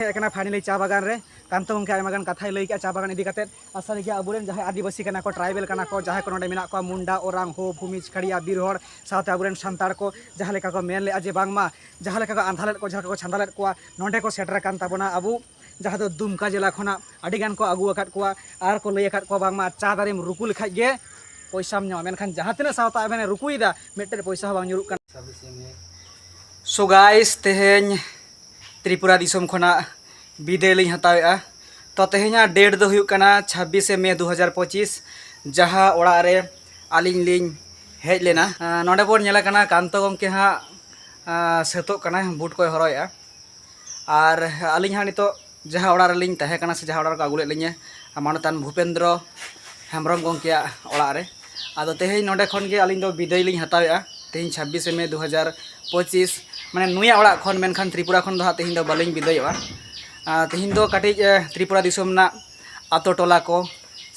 ᱦᱮᱡ ᱟᱠᱟᱱᱟ ᱯᱷᱟᱭᱱᱟᱞᱤ ᱪᱟ ᱵᱟᱜᱟᱱ ᱨᱮ ᱠᱟᱱᱛᱚ ᱜᱚᱢᱠᱮ ᱟᱭᱢᱟ ᱜᱟᱱ ᱠᱟᱛᱷᱟᱭ ᱞᱟᱹᱭ ᱠᱮᱜᱼᱟ ᱪᱟ ᱵᱟᱜᱟᱱ ᱤᱫᱤ ᱠᱟᱛᱮ ᱟᱨ ᱥᱟᱹᱨᱤ ᱜᱮ ᱟᱵᱚᱨᱮᱱ ᱡᱟᱦᱟᱸᱭ ᱟᱹᱫᱤᱵᱟᱹᱥᱤ ᱠᱟᱱᱟ ᱠᱚ ᱴᱨᱟᱭᱵᱮᱞ ᱠᱟᱱᱟ ᱠᱚ ᱡᱟᱦᱟᱸᱭ ᱠᱚ ᱱᱚᱰᱮ ᱢᱮᱱᱟᱜ ᱠᱚᱣᱟ ᱢᱩᱱᱰᱟ ᱳᱨᱟᱝ ᱦᱳ ᱵᱷᱩᱢᱤᱡᱽ ᱠᱷᱟᱲᱤᱭᱟ ᱵᱤᱨ ᱦᱚᱲ ᱥᱟᱶᱛᱮ ᱟᱵᱚᱨᱮᱱ ᱥᱟᱱᱛᱟᱲ ᱠᱚ ᱡᱟᱦᱟᱸ ᱞᱮᱠᱟ ᱠᱚ ᱢᱮᱱ ᱞᱮᱜᱼᱟ ᱡᱮ ᱵᱟᱝᱢᱟ ᱡᱟᱦᱟᱸ ᱞᱮᱠᱟ ᱠᱚ ᱟᱸᱫᱷᱟ ᱞᱮᱫ ᱠᱚ ᱡᱟᱦᱟᱸ ᱞᱮᱠᱟ ᱠᱚ ᱪᱷᱟᱸᱫᱟ ᱞᱮᱫ ᱠᱚᱣᱟ ᱱᱚᱰᱮ ᱠᱚ ᱥᱮᱴᱮᱨ ᱟᱠᱟᱱ ᱛᱟᱵᱚᱱᱟ ᱟᱵᱚ ᱡᱟᱦᱟᱸ ᱫᱚ ᱫᱩᱢᱠᱟ ᱡᱮᱞᱟ ᱠᱷᱚᱱᱟᱜ ᱟᱹᱰᱤ ᱜᱟᱱ ᱠᱚ ᱟᱹᱜᱩ ᱟᱠᱟᱫ ᱠᱚᱣᱟ ᱟᱨ ᱠᱚ ᱞᱟᱹᱭ ᱟᱠᱟᱫ ᱠᱚᱣᱟ ᱵᱟᱝᱢᱟ ᱪᱟ ᱫᱟᱨᱮᱢ ᱨᱩᱠᱩ ᱞᱮᱠᱷᱟᱡ ᱜᱮ ᱯᱚᱭᱥᱟᱢ ᱧᱟᱢᱟ ᱢᱮᱱᱠᱷᱟᱱ ᱡᱟᱦᱟᱸ ᱛᱤᱱᱟᱹᱜ ᱥᱟᱶᱛᱟ ᱟᱵᱮᱱᱮ ᱨᱩᱠᱩᱭᱮᱫᱟ ᱢᱤᱫᱴᱮᱱ ᱯᱚᱭᱥᱟ ᱦᱚᱸ ᱵᱟᱝ ᱧᱩᱨᱩᱜ ᱠᱟᱱᱟ ᱥᱳ ᱜᱟᱭᱥ ᱛᱮᱦᱮᱧ ᱛᱨᱤᱯᱩᱨᱟ ᱫᱤᱥᱚᱢ ᱠᱷᱚᱱᱟᱜ ᱵᱤᱫᱟᱹᱭ ᱞᱤᱧ ᱦᱟᱛᱟᱣᱮᱜᱼᱟ ᱛᱚ ᱛᱮᱦᱮᱧᱟᱜ ᱰᱮᱴ ᱫᱚ ᱦᱩᱭᱩᱜ ᱠᱟᱱᱟ ᱪᱷᱟᱵᱵᱤᱥᱮ ᱢᱮ ᱫᱩ ᱦᱟᱡᱟᱨ ᱯᱚᱸᱪᱤᱥ ᱡᱟᱦᱟᱸ ᱚᱲᱟᱜ ᱨᱮ ᱟᱹᱞᱤᱧ ᱞᱤᱧ ᱦᱮᱡ ᱞᱮᱱᱟ ᱱᱚᱰᱮ ᱵᱚᱱ ᱧᱮᱞ ᱠᱟᱱᱟ ᱠᱟᱱᱛᱚ ᱜᱚᱢᱠᱮ ᱦᱟᱸᱜ ᱥᱟᱹᱛᱚᱜ ᱠᱟᱱᱟᱭ ᱵᱩᱴ ᱠᱚᱭ ᱦᱚᱨᱚᱜᱮᱜᱼᱟ ᱟᱨ ᱟᱹᱞᱤᱧ ᱦᱟᱸᱜ ᱱᱤᱛᱚᱜ ᱡᱟᱦᱟᱸ ᱚᱲᱟᱜ ᱨᱮᱞᱤᱧ ᱛᱟᱦᱮᱸ ᱠᱟᱱᱟ ᱥᱮ ᱡᱟᱦᱟᱸ ᱚᱲᱟᱜ ᱨᱮᱠᱚ ᱟᱹᱜᱩ ᱞᱮᱫ ᱞᱤᱧᱟᱹ ᱢᱟᱱᱚᱛᱟᱱ ᱵᱷᱩᱯᱮᱱᱫᱨᱚ ᱦᱮᱢᱵᱨᱚᱢ ᱜᱚᱢᱠᱮᱭᱟᱜ ᱚᱲᱟᱜ ᱨᱮ ᱟᱫᱚ ᱛᱮᱦᱮᱧ ᱱᱚᱰᱮ ᱠᱷᱚᱱ ᱜᱮ ᱟᱹᱞᱤᱧ ᱫᱚ ᱵᱤᱫᱟᱹᱭ ᱞᱤᱧ ᱦᱟᱛᱟᱣᱮᱜᱼᱟ ᱛᱮᱦᱮᱧ ᱪᱷᱟᱵᱽᱵᱤᱥᱮ ᱢᱮ ᱫᱩ ᱦᱟᱡᱟᱨ ᱯᱚᱸᱪᱤᱥ ᱢᱟᱱᱮ ᱱᱩᱭᱟᱜ ᱚᱲᱟᱜ ᱠᱷᱚᱱ ᱢᱮᱱᱠᱷᱟᱱ ᱛᱨᱤᱯᱩᱨᱟ ᱠᱷᱚᱱ ᱫᱚ ᱦᱟᱸᱜ ᱛᱮᱦᱮᱧ ᱫᱚ ᱵᱟᱹᱞᱤᱧ ᱵᱤᱫᱟᱹᱭᱚᱜᱼᱟ ᱛᱮᱦᱮᱧ ᱫᱚ ᱠᱟᱹᱴᱤᱡ ᱛᱨᱤᱯᱩᱨᱟ ᱫᱤᱥᱚᱢ ᱨᱮᱱᱟᱜ ᱟᱛᱳ ᱴᱚᱞᱟ ᱠᱚ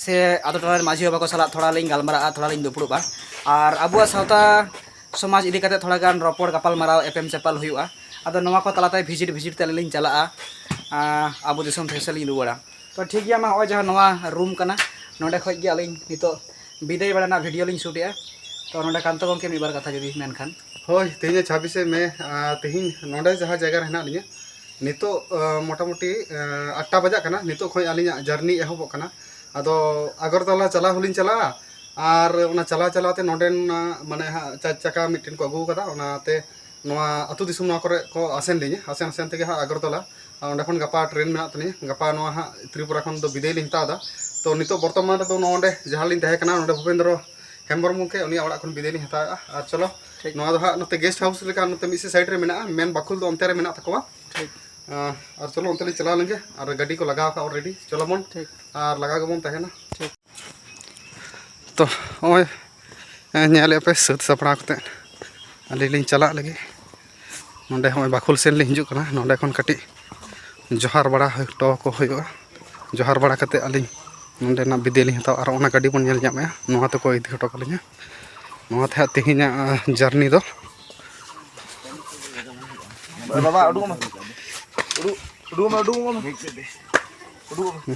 ᱥᱮ ᱟᱛᱳ ᱴᱚᱞᱟ ᱨᱮᱱ ᱢᱟᱹᱡᱷᱤ ᱵᱟᱵᱟ ᱠᱚ ᱥᱟᱞᱟᱜ ᱛᱷᱚᱲᱟ ᱞᱤᱧ ᱜᱟᱞᱢᱟᱨᱟᱜᱼᱟ ᱛᱷᱚᱲᱟ ᱞᱤᱧ ᱫᱩᱯᱲᱩᱵᱼᱟ ᱟᱨ ᱟᱵᱚᱣᱟᱜ ᱥᱟᱶᱛᱟ ᱥᱚᱢᱟᱡᱽ ᱤᱫᱤ ᱠᱟᱛᱮ ᱛᱷᱚᱲᱟ ᱜᱟᱱ ᱨᱚᱯᱚᱲ ᱜᱟᱯᱟᱞ ᱢᱟᱨᱟᱣ ᱮᱯᱮᱢ ᱪᱟᱯᱟᱞ ᱦᱩᱭᱩᱜᱼᱟ ᱟᱫᱚ ᱱᱚᱣᱟ ᱠᱚ ᱛᱟᱞᱟᱛᱮ ᱵᱷᱤᱡᱤᱴ ᱵᱷᱤᱡᱤᱴ ᱛᱮ ᱟᱹᱞᱤᱧ ᱞᱤᱧ ᱪᱟᱞᱟᱜᱼᱟ ᱟᱵᱚ ᱫᱤᱥᱚᱢ ᱯᱷᱮᱨ ᱥᱮᱫ ᱞᱤᱧ ᱨᱩᱣᱟᱹᱲᱟ ᱛᱚ ᱴᱷᱤᱠ ᱜᱮᱭᱟ ᱢᱟ ᱱᱚᱜᱼᱚᱭ ᱡᱟᱦᱟᱸ ᱱᱚᱣᱟ ᱨᱩᱢ ᱠᱟᱱᱟ ᱱᱚᱰᱮ ᱠᱷᱚᱡ ᱜᱮ ᱟᱹᱞᱤᱧ ᱱᱤᱛᱚᱜ ᱵᱤᱫᱟᱹᱭ ᱵᱟᱲᱟ ᱨᱮᱱᱟᱜ ᱵᱷᱤᱰᱤᱭᱳ ᱞᱤᱧ ᱥᱩᱴᱮᱜᱼᱟ ᱛᱚ ᱱᱚᱰᱮ ᱠᱟᱱᱛᱚ ᱜᱚᱢᱠᱮ ᱢᱤᱫ ᱵᱟᱨ ᱠᱟᱛᱷᱟ ᱡᱩᱫᱤ ᱢᱮᱱᱠᱷᱟᱱ ᱦᱳᱭ ᱛᱮᱦᱮᱧ ᱪᱷᱟᱵᱤᱥᱮ ᱢᱮ ᱛᱮᱦᱮᱧ ᱱᱚᱰᱮ ᱡᱟᱦᱟᱸ ᱡᱟᱭᱜᱟ ᱨᱮ ᱦᱮᱱᱟᱜ ᱞᱤᱧᱟ ᱱᱤᱛᱚᱜ ᱢᱚᱴᱟᱢᱩᱴᱤ ᱟᱴᱴᱟ ᱵᱟᱡᱟᱜ ᱠᱟᱱᱟ ᱱᱤᱛᱚᱜ ᱠᱷᱚᱡ ᱟᱹᱞᱤᱧᱟᱜ ᱡᱟᱨᱱᱤ ᱮᱦᱚᱵᱚᱜ ᱠᱟᱱᱟ ᱟᱫᱚ ᱟᱜᱚᱨᱛᱚᱞᱟ ᱪᱟᱞᱟᱣ ᱦᱚᱸᱞᱤᱧ ᱪᱟᱞᱟᱜᱼᱟ ᱟᱨ ᱚᱱᱟ ᱪᱟᱞᱟᱣ ᱪᱟᱞᱟᱣ ᱛᱮ ᱱᱚᱰᱮᱱ ᱢᱟᱱᱮ ᱦᱟᱸᱜ ᱪᱟᱨ ᱪᱟᱠᱟ ᱢᱤᱫᱴᱮᱱ ᱠᱚ ᱟᱹᱜᱩ ᱟᱠᱟᱫᱟ ᱚᱱᱟᱛᱮ ᱱᱚᱣᱟ ᱟᱹᱛᱩ ᱫᱤᱥᱚᱢ ᱱᱚᱣᱟ ᱠᱚᱨᱮ ᱠᱚ ᱟᱥᱮᱱ ᱞᱤᱧᱟ ᱟᱥᱮᱱ ᱟᱥᱮᱱ ᱛᱮᱜᱮ ᱦᱟᱸᱜ ᱟᱜᱚᱨᱛᱚᱞᱟ ᱟᱨ ᱚᱸᱰᱮ ᱠᱷᱚᱱ ᱜᱟᱯᱟ ᱴᱨᱮᱱ ᱢᱮᱱᱟᱜ ᱛᱟᱹᱞᱤᱧᱟ ᱜᱟᱯᱟ ᱱᱚᱣᱟ ᱦᱟᱸᱜ ᱛᱨᱤᱯᱩᱨᱟ ᱠᱷᱚᱱ ᱫᱚ ᱵᱤᱫᱟᱹᱭ ᱞᱤᱧ ᱦᱟᱛᱟᱣ ᱮᱫᱟ ᱛᱚ ᱱᱤᱛᱚᱜ ᱵᱚᱨᱛᱚᱢᱟᱱ ᱨᱮᱫᱚ ᱱᱚᱰᱮ ᱡᱟᱦᱟᱸ ᱨᱮᱞᱤᱧ ᱛᱟᱦᱮᱸ ᱠᱟᱱᱟ ᱱᱚᱰᱮ ᱵᱷᱩᱯᱮᱱᱫᱨᱚ ᱦᱮᱢᱵᱨᱚᱢ ᱜᱚᱢᱠᱮ ᱩᱱᱤᱭᱟᱜ ᱚᱲᱟᱜ ᱠᱷᱚᱱ ᱵᱤᱫᱟᱹᱭ ᱞᱤᱧ ᱦᱟᱛᱟᱣᱮᱜᱼᱟ ᱟᱨ ᱪᱚᱞᱚ ᱱᱚᱣᱟ ᱫᱚ ᱦᱟᱸᱜ ᱱᱚᱛᱮ ᱜᱮᱥᱴ ᱦᱟᱣᱩᱥ ᱞᱮᱠᱟ ᱱᱚᱛᱮ ᱢᱤᱫ ᱥᱮᱫ ᱥᱟᱭᱤᱰ ᱨᱮ ᱢᱮᱱᱟᱜᱼᱟ ᱢᱮᱱ ᱵᱟᱠᱷᱩᱞ ᱫᱚ ᱚᱱᱛᱮ ᱨᱮ ᱢᱮᱱᱟᱜ ᱛᱟᱠᱚᱣᱟ ᱟᱨ ᱪᱚᱞᱚ ᱚᱱᱛᱮ ᱞᱤᱧ ᱪᱟᱞᱟᱣ ᱞᱮᱱᱜᱮ ᱟᱨ ᱜᱟᱹᱰᱤ ᱠᱚ ᱞᱟᱜᱟᱣ ᱟᱠᱟᱫ ᱚᱞᱨᱮᱰᱤ ᱪᱚᱞᱚ ᱵᱚᱱ ᱟᱨ ᱞᱟᱜᱟᱣ ᱜᱮᱵᱚᱱ ᱛᱟᱦᱮᱱᱟ ᱛᱚ ᱱᱚᱜᱼᱚᱭ ᱧᱮᱞᱮᱫ ᱯᱮ ᱥᱟᱹᱛ ᱥᱟᱯᱲᱟᱣ ᱠᱟᱛᱮᱫ ᱟᱹᱞᱤᱧ ᱞᱤᱧ ᱪᱟᱞᱟᱜ ᱞᱟᱹᱜᱤᱫ ᱱᱚᱰᱮ ᱦᱚᱸᱜᱼᱚᱭ ᱵᱟᱠᱷᱳᱞ ᱥᱮᱱ ᱞᱤᱧ ᱦᱤᱡᱩᱜ ᱠᱟᱱᱟ ᱱᱚᱰᱮ ᱠᱷᱚᱱ ᱠᱟᱹᱴᱤᱡ ᱡᱚᱦᱟᱨ ᱵᱟᱲᱟ ᱦᱚᱴᱚ ᱟᱠᱚ ᱦᱩᱭᱩᱜᱼᱟ ᱡᱚᱦᱟᱨ ᱵᱟᱲᱟ ᱠᱟᱛᱮᱫ ᱟᱹᱞᱤᱧ ᱱᱚᱰᱮᱱᱟᱜ ᱵᱤᱫᱟᱹᱭ ᱞᱤᱧ ᱦᱟᱛᱟᱣᱟ ᱟᱨ ᱚᱱᱟ ᱜᱟᱹᱰᱤ ᱵᱚᱱ ᱧᱮᱞ ᱧᱟᱢᱮᱜᱼᱟ ᱱᱚᱣᱟ ᱛᱮᱠᱚ ᱤᱫᱤ ᱦᱚᱴᱚ ᱠᱟᱹᱞᱤᱧᱟ ᱱᱚᱣᱟ ᱛᱮ ᱦᱟᱸᱜ ᱛᱮᱦᱮᱧᱟᱜ ᱡᱟᱨᱱᱤ ᱫᱚ ᱵᱟᱵᱟ ᱩᱰᱩᱠᱚᱜ ᱢᱮ ᱩᱰᱩᱠ ᱩᱰᱩᱠᱚᱜ ᱢᱮ ᱩᱰᱩᱠᱚᱜ ᱢᱮ ᱩᱰᱩᱠᱚᱜ ᱢᱮ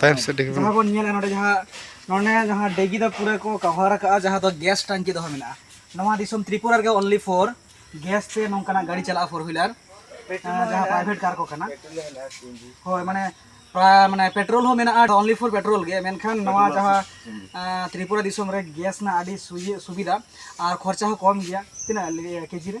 ᱛᱟᱭᱚᱢ ᱥᱮᱫ ᱰᱤᱜᱤ ᱡᱟᱦᱟᱸ ᱵᱚᱱ ᱧᱮᱞᱟ ᱱᱚᱰᱮ ᱡᱟᱦᱟᱸ ᱱᱚᱰᱮ ᱡᱟᱦᱟᱸ ᱰᱤᱜᱤ ᱫᱚ ᱯᱩᱨᱟᱹ ᱠᱚ ᱠᱟᱵᱷᱟᱨ ᱟᱠᱟᱫᱼᱟ ᱡᱟᱦᱟᱸ ᱫᱚ ᱜᱮᱥ ᱴᱟᱝᱠᱤ ᱫᱚᱦᱚ ᱢᱮᱱᱟᱜᱼᱟ ᱱᱚᱣᱟ ᱫᱤᱥᱚᱢ ᱛᱨᱤᱯᱩᱨᱟ ᱨᱮᱜᱮ ᱚᱱᱞᱤ ᱯᱷᱳᱨ ᱜᱮᱥ ᱛᱮ ᱱᱚᱝᱠᱟᱱᱟᱜ ᱜᱟᱹᱰᱤ ᱪᱟᱞᱟᱜᱼᱟ ᱯᱷᱳᱨ ᱦᱩᱭᱞᱟᱨ ᱡᱟᱦᱟᱸ ᱯᱨᱟᱭᱵᱷᱮᱴ ᱠᱟᱨ ᱠᱚ ᱠᱟᱱᱟ ᱦᱳᱭ ᱢᱟᱱᱮ ᱢᱟᱱᱮ ᱯᱮᱴᱨᱳᱞ ᱦᱚᱸ ᱢᱮᱱᱟᱜᱼᱟ ᱚᱱᱞᱤ ᱯᱷᱳᱨ ᱯᱮᱴᱨᱳᱞ ᱜᱮ ᱢᱮᱱᱠᱷᱟᱱ ᱱᱚᱣᱟ ᱡᱟᱦᱟᱸ ᱛᱨᱤᱯᱩᱨᱟ ᱫᱤᱥᱚᱢ ᱨᱮ ᱜᱮᱥ ᱨᱮᱱᱟᱜ ᱟᱹᱰᱤ ᱥᱩᱵᱤᱫᱷᱟ ᱟᱨ ᱠᱷᱚᱨᱪᱟ ᱦᱚᱸ ᱠᱚᱢ ᱜᱮᱭᱟ ᱛᱤᱱᱟᱹᱜ ᱠᱮᱡᱤ ᱨᱮ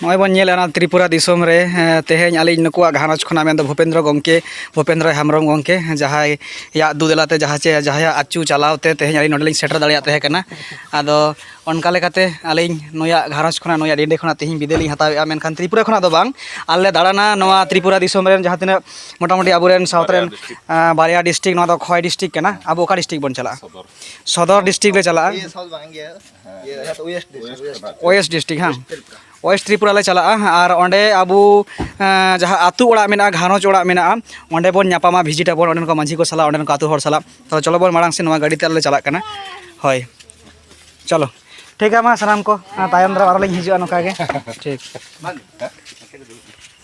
ᱱᱚᱜᱼᱚᱭ ᱵᱚᱱ ᱧᱮᱞᱮᱫ ᱚᱱᱟ ᱛᱨᱤᱯᱩᱨᱟ ᱫᱤᱥᱚᱢ ᱨᱮ ᱛᱮᱦᱮᱧ ᱟᱹᱞᱤᱧ ᱱᱩᱠᱩᱣᱟᱜ ᱜᱷᱟᱨᱚᱸᱡᱽ ᱠᱷᱚᱱᱟᱜ ᱢᱮᱱᱫᱚ ᱵᱷᱩᱯᱮᱱᱫᱨᱚ ᱜᱚᱢᱠᱮ ᱵᱷᱩᱯᱮᱱᱫᱨᱚ ᱦᱮᱢᱵᱨᱚᱢ ᱜᱚᱢᱠᱮ ᱡᱟᱦᱟᱸᱭ ᱭᱟᱜ ᱫᱩᱫᱮᱞᱟᱛᱮ ᱡᱟᱦᱟᱸ ᱪᱮ ᱡᱟᱦᱟᱸᱭᱟᱜ ᱟᱹᱪᱩ ᱪᱟᱞᱟᱣ ᱛᱮ ᱛᱮᱦᱮᱧ ᱟᱹᱞᱤᱧ ᱱᱚᱰᱮ ᱞᱤᱧ ᱥᱮᱴᱮᱨ ᱫᱟᱲᱮᱭᱟᱜ ᱛᱟᱦᱮᱸ ᱠᱟᱱᱟ ᱟᱫᱚ ᱚᱱᱠᱟ ᱞᱮᱠᱟᱛᱮ ᱟᱹᱞᱤᱧ ᱱᱩᱭᱟᱜ ᱜᱷᱟᱨᱚᱸᱡᱽ ᱠᱷᱚᱱᱟᱜ ᱱᱩᱭᱟᱜ ᱰᱤᱱᱰᱮ ᱠᱷᱚᱱᱟᱜ ᱛᱮᱦᱮᱧ ᱵᱤᱫᱟᱹᱭ ᱞᱤᱧ ᱦᱟᱛᱟᱣᱮᱫᱼᱟ ᱢᱮᱱᱠᱷᱟᱱ ᱛᱨᱤᱯᱩᱨᱟ ᱠᱷᱚᱱᱟᱜ ᱫᱚ ᱵᱟᱝ ᱟᱞᱮ ᱞᱮ ᱫᱟᱬᱟᱱᱟ ᱱᱚᱣᱟ ᱛᱨᱤᱯᱩᱨᱟ ᱫᱤᱥᱚᱢ ᱨᱮᱱ ᱡᱟᱦᱟᱸ ᱛᱤᱱᱟᱹᱜ ᱢᱚᱴᱟᱢᱩᱴᱤ ᱟᱵᱚ ᱨᱮᱱ ᱥᱟᱶᱛᱟ ᱨᱮᱱ ᱵᱟᱨᱭᱟ ᱰᱤᱥᱴᱨᱤᱠ ᱱᱚᱣᱟ ᱫᱚ ᱠᱷᱚᱣᱟᱭ ᱰᱤᱥᱴᱨᱤᱠ ᱠᱟᱱᱟ ᱟᱵᱚ ᱚᱠᱟ ᱰᱤᱥᱴᱨᱤᱠ ᱵᱚᱱ ᱪᱟᱞᱟᱜᱼᱟ ᱥᱚᱫᱚᱨ ᱰᱤᱥᱴᱨᱤᱠᱴ ᱞᱮ ᱪᱟᱞᱟᱜᱼᱟ ᱳᱭᱮᱥᱴ ᱰᱤᱥᱴᱨᱤᱠ ᱦᱮᱸ ᱳᱭᱮᱥᱴ ᱛᱨᱤᱯᱩᱨᱟ ᱞᱮ ᱪᱟᱞᱟᱜᱼᱟ ᱟᱨ ᱚᱸᱰᱮ ᱟᱵᱚ ᱡᱟᱦᱟᱸ ᱟᱹᱛᱩ ᱚᱲᱟᱜ ᱢᱮᱱᱟᱜᱼᱟ ᱜᱷᱟᱨᱚᱸᱡᱽ ᱚᱲᱟᱜ ᱢᱮᱱᱟᱜᱼᱟ ᱚᱸᱰᱮ ᱵᱚᱱ ᱧᱟᱯᱟᱢᱟ ᱵᱷᱤᱡᱤᱴ ᱟᱵᱚᱱ ᱚᱸᱰᱮᱱ ᱠᱚ ᱢᱟᱺᱡᱷᱤ ᱠᱚ ᱥᱟᱞᱟᱜ ᱚᱸᱰᱮᱱ ᱠᱚ ᱟᱹᱛᱩ ᱦᱚᱲ ᱥᱟᱞᱟᱜ ᱛᱚ ᱪᱚᱞᱚ ᱵᱚᱱ ᱢᱟᱲᱟᱝ ᱥᱮᱫ ᱱᱚᱣᱟ ᱜᱟᱹᱰᱤ ᱛᱮ ᱟᱞᱮ ᱞᱮ ᱪᱟᱞᱟᱜ ᱠᱟᱱᱟ ᱦᱳᱭ ᱪᱚᱞᱚ ᱴᱷᱤᱠ ᱜᱮᱭᱟ ᱢᱟ ᱥᱟᱱᱟᱢ ᱠᱚ ᱛᱟᱭᱚᱢ ᱫᱟᱨᱟᱢ ᱟᱨᱚ ᱞᱤᱧ ᱦᱤᱡᱩᱜᱼᱟ ᱱᱚᱝᱠᱟ ᱜᱮ ᱴᱷᱤᱠ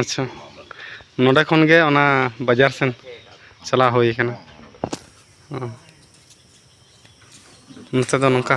ᱟᱪᱪᱷᱟ ᱱᱚᱰᱮ ᱠᱷᱚᱱ ᱜᱮ ᱚᱱᱟ ᱵᱟᱡᱟᱨ ᱥᱮᱱ ᱪᱟᱞᱟᱣ ᱦᱩᱭ ᱠᱟᱱᱟ ᱱᱚᱛᱮ ᱫᱚ ᱱᱚᱝᱠᱟ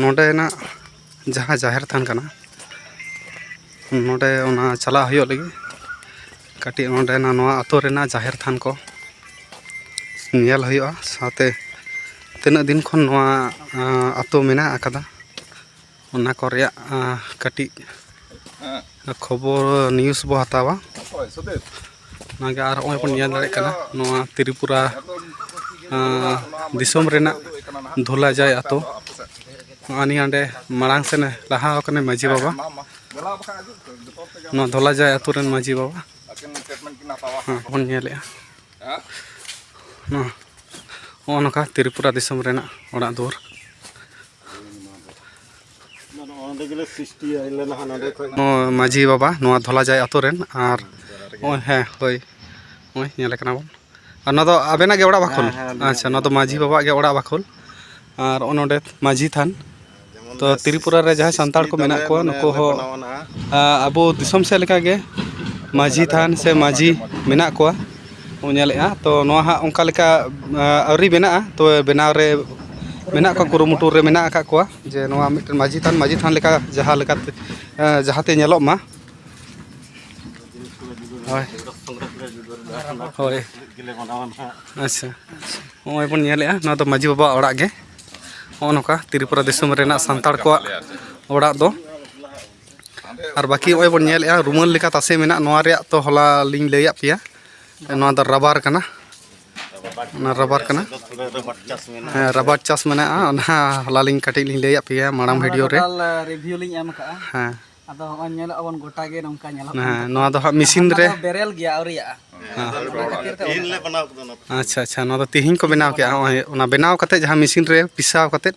ᱱᱚᱰᱮᱱᱟᱜ ᱡᱟᱦᱟᱸ ᱡᱟᱦᱮᱨ ᱛᱷᱟᱱ ᱠᱟᱱᱟ ᱱᱚᱰᱮ ᱚᱱᱟ ᱪᱟᱞᱟᱜ ᱦᱩᱭᱩᱜ ᱞᱟᱹᱜᱤᱫ ᱠᱟᱹᱴᱤᱡ ᱱᱚᱰᱮᱱᱟᱜ ᱱᱚᱣᱟ ᱟᱹᱛᱩ ᱨᱮᱱᱟᱜ ᱡᱟᱦᱮᱨ ᱛᱷᱟᱱ ᱠᱚ ᱧᱮᱞ ᱦᱩᱭᱩᱜᱼᱟ ᱥᱟᱶᱛᱮ ᱛᱤᱱᱟᱹᱜ ᱫᱤᱱ ᱠᱷᱚᱱ ᱱᱚᱣᱟ ᱟᱹᱛᱩ ᱢᱮᱱᱟᱜ ᱟᱠᱟᱫᱟ ᱚᱱᱟ ᱠᱚ ᱨᱮᱭᱟᱜ ᱠᱟᱹᱴᱤᱡ ᱠᱷᱚᱵᱚᱨ ᱱᱤᱭᱩᱥ ᱵᱚᱱ ᱦᱟᱛᱟᱣᱟ ᱚᱱᱟᱜᱮ ᱟᱨ ᱱᱚᱜᱼᱚᱭ ᱵᱚᱱ ᱧᱮᱞ ᱫᱟᱲᱮᱭᱟᱜ ᱠᱟᱱᱟ ᱱᱚᱣᱟ ᱛᱨᱤᱯᱩᱨᱟ ᱫᱤᱥᱚᱢ ᱨᱮᱱᱟᱜ ᱫᱷᱚᱞᱟ ᱡᱟᱭ ᱟᱛᱳ ᱱᱚᱜᱼᱚᱭ ᱱᱤᱭᱟᱹ ᱚᱸᱰᱮ ᱢᱟᱲᱟᱝ ᱥᱮᱱᱮ ᱞᱟᱦᱟ ᱟᱠᱟᱱᱟᱭ ᱢᱟᱹᱡᱷᱤ ᱵᱟᱵᱟ ᱱᱚᱣᱟ ᱫᱷᱚᱞᱟ ᱡᱟᱭ ᱟᱛᱳ ᱨᱮᱱ ᱢᱟᱹᱡᱷᱤ ᱵᱟᱵᱟ ᱵᱚᱱ ᱧᱮᱞᱮᱜᱼᱟ ᱱᱚᱣᱟ ᱱᱚᱜᱼᱚ ᱱᱚᱝᱠᱟ ᱛᱨᱤᱯᱩᱨᱟ ᱫᱤᱥᱚᱢ ᱨᱮᱱᱟᱜ ᱚᱲᱟᱜ ᱫᱩᱣᱟᱹᱨ ᱢᱟᱹᱡᱷᱤ ᱵᱟᱵᱟ ᱱᱚᱣᱟ ᱫᱷᱚᱞᱟᱡᱟᱭ ᱟᱛᱳ ᱨᱮᱱ ᱟᱨ ᱱᱚᱜᱼᱚᱭ ᱦᱮᱸ ᱦᱳᱭ ᱱᱚᱜᱼᱚᱭ ᱧᱮᱞᱮ ᱠᱟᱱᱟ ᱵᱚᱱ ᱟᱨ ᱱᱚᱣᱟ ᱫᱚ ᱟᱵᱮᱱᱟᱜ ᱜᱮ ᱚᱲᱟᱜ ᱵᱟᱠᱷᱳᱞ ᱟᱪᱪᱷᱟ ᱱᱚᱣᱟ ᱫᱚ ᱢᱟᱹᱡᱷᱤ ᱵᱟᱵᱟᱣᱟᱜ ᱜᱮ ᱚᱲᱟᱜ ᱵᱟᱠᱷᱳᱞ ᱟᱨ ᱱᱚᱜᱼᱚᱭ ᱱᱚᱰᱮ ᱢᱟᱹᱡᱷᱤ ᱛᱷᱟᱱ ᱛᱚ ᱛᱨᱤᱯᱩᱨᱟ ᱨᱮ ᱡᱟᱦᱟᱸᱭ ᱥᱟᱱᱛᱟᱲ ᱠᱚ ᱢᱮᱱᱟᱜ ᱠᱚᱣᱟ ᱱᱩᱠᱩ ᱦᱚᱸ ᱟᱵᱚ ᱫᱤᱥᱚᱢ ᱥᱮᱫ ᱞᱮᱠᱟᱜᱮ ᱢᱟᱹᱡᱷᱤ ᱛᱷᱟᱱ ᱥᱮ ᱢᱟᱹᱡᱷᱤ ᱢᱮᱱᱟᱜ ᱠᱚᱣᱟ ᱵᱚᱱ ᱧᱮᱞᱮᱜᱼᱟ ᱛᱚ ᱱᱚᱣᱟ ᱦᱟᱸᱜ ᱚᱱᱠᱟ ᱞᱮᱠᱟ ᱟᱹᱣᱨᱤ ᱵᱮᱱᱟᱜᱼᱟ ᱛᱚ ᱵᱮᱱᱟᱣ ᱨᱮ ᱢᱮᱱᱟᱜ ᱠᱚᱣᱟ ᱠᱩᱨᱩᱢᱩᱴᱩ ᱨᱮ ᱢᱮᱱᱟᱜ ᱟᱠᱟᱫ ᱠᱚᱣᱟ ᱡᱮ ᱱᱚᱣᱟ ᱢᱤᱫᱴᱮᱱ ᱢᱟᱹᱡᱷᱤ ᱛᱷᱟᱱ ᱢᱟᱹᱡᱷᱤ ᱛᱷᱟᱱ ᱞᱮᱠᱟ ᱡᱟᱦᱟᱸ ᱞᱮᱠᱟᱛᱮ ᱡᱟᱦᱟᱸ ᱛᱮ ᱧᱮᱞᱚᱜ ᱢᱟ ᱦᱳᱭ ᱦᱳᱭ ᱟᱪᱪᱷᱟ ᱱᱚᱜᱼᱚᱭ ᱵᱚᱱ ᱧᱮᱞᱮᱜᱼᱟ ᱱᱚᱣᱟ ᱫᱚ ᱢᱟᱹᱡᱷᱤ ᱵᱟᱵᱟᱣᱟᱜ ᱚᱲᱟᱜ ᱜᱮ ᱱᱚᱜᱼᱚ ᱱᱚᱝᱠᱟ ᱛᱨᱤᱯᱩᱨᱟ ᱫᱤᱥᱚᱢ ᱨᱮᱱᱟᱜ ᱥᱟᱱᱛᱟᱲ ᱠᱚᱣᱟᱜ ᱚᱲᱟᱜ ᱫᱚ ᱟᱨ ᱵᱟᱹᱠᱤ ᱱᱚᱜᱼᱚᱭ ᱵᱚᱱ ᱧᱮᱞᱮᱜᱼᱟ ᱨᱩᱢᱟᱹᱞ ᱞᱮᱠᱟ ᱛᱟᱥᱮ ᱢᱮᱱᱟᱜ ᱱᱚᱣᱟ ᱨᱮᱭᱟᱜ ᱛᱚ ᱦᱚᱞᱟ ᱞᱤᱧ ᱞᱟᱹᱭᱟᱫ ᱯᱮᱭᱟ ᱱᱚᱣᱟ ᱫᱚ ᱨᱟᱵᱟᱨ ᱠᱟᱱᱟ ᱚᱱᱟ ᱨᱟᱵᱟᱨ ᱠᱟᱱᱟ ᱦᱮᱸ ᱨᱟᱵᱟᱨ ᱪᱟᱥ ᱢᱮᱱᱟᱜᱼᱟ ᱚᱱᱟ ᱦᱚᱞᱟ ᱞᱤᱧ ᱠᱟᱹᱴᱤᱡ ᱞᱤᱧ ᱞᱟᱹᱭᱟᱫ ᱯᱮᱭᱟ ᱢᱟᱲᱟᱝ ᱵᱷᱤᱰᱤᱭᱳ ᱨᱮ ᱨᱤᱵᱷᱤᱭᱩ ᱞᱤᱧ ᱮᱢ ᱠᱟᱜᱼᱟ ᱦᱮᱸ ᱟᱫᱚ ᱦᱚᱸᱜᱼᱚᱭ ᱧᱮᱞᱚᱜ ᱟᱵᱚᱱ ᱜᱚᱴᱟ ᱜᱮ ᱱᱚᱝᱠᱟ ᱧᱮᱞᱚᱜ ᱦᱮᱸ ᱱᱚᱣᱟ ᱫᱚ ᱦᱟᱸᱜ ᱢᱮᱥᱤᱱ ᱨᱮ ᱵᱮᱨᱮᱞ ᱜᱮᱭᱟ ᱟᱹᱣᱨᱤᱭᱟᱜᱼᱟ ᱟᱪᱪᱷᱟ ᱟᱪᱪᱷᱟ ᱱᱚᱣᱟ ᱫᱚ ᱛᱮᱦᱮᱧ ᱠᱚ ᱵᱮᱱᱟᱣ ᱠᱮᱜᱼᱟ ᱱᱚᱜᱼᱚᱭ ᱚᱱᱟ ᱵᱮᱱᱟᱣ ᱠᱟᱛᱮᱫ ᱡᱟᱦᱟᱸ ᱢᱮᱥᱤᱱ ᱨᱮ ᱯᱤᱥᱟᱣ ᱠᱟᱛᱮᱫ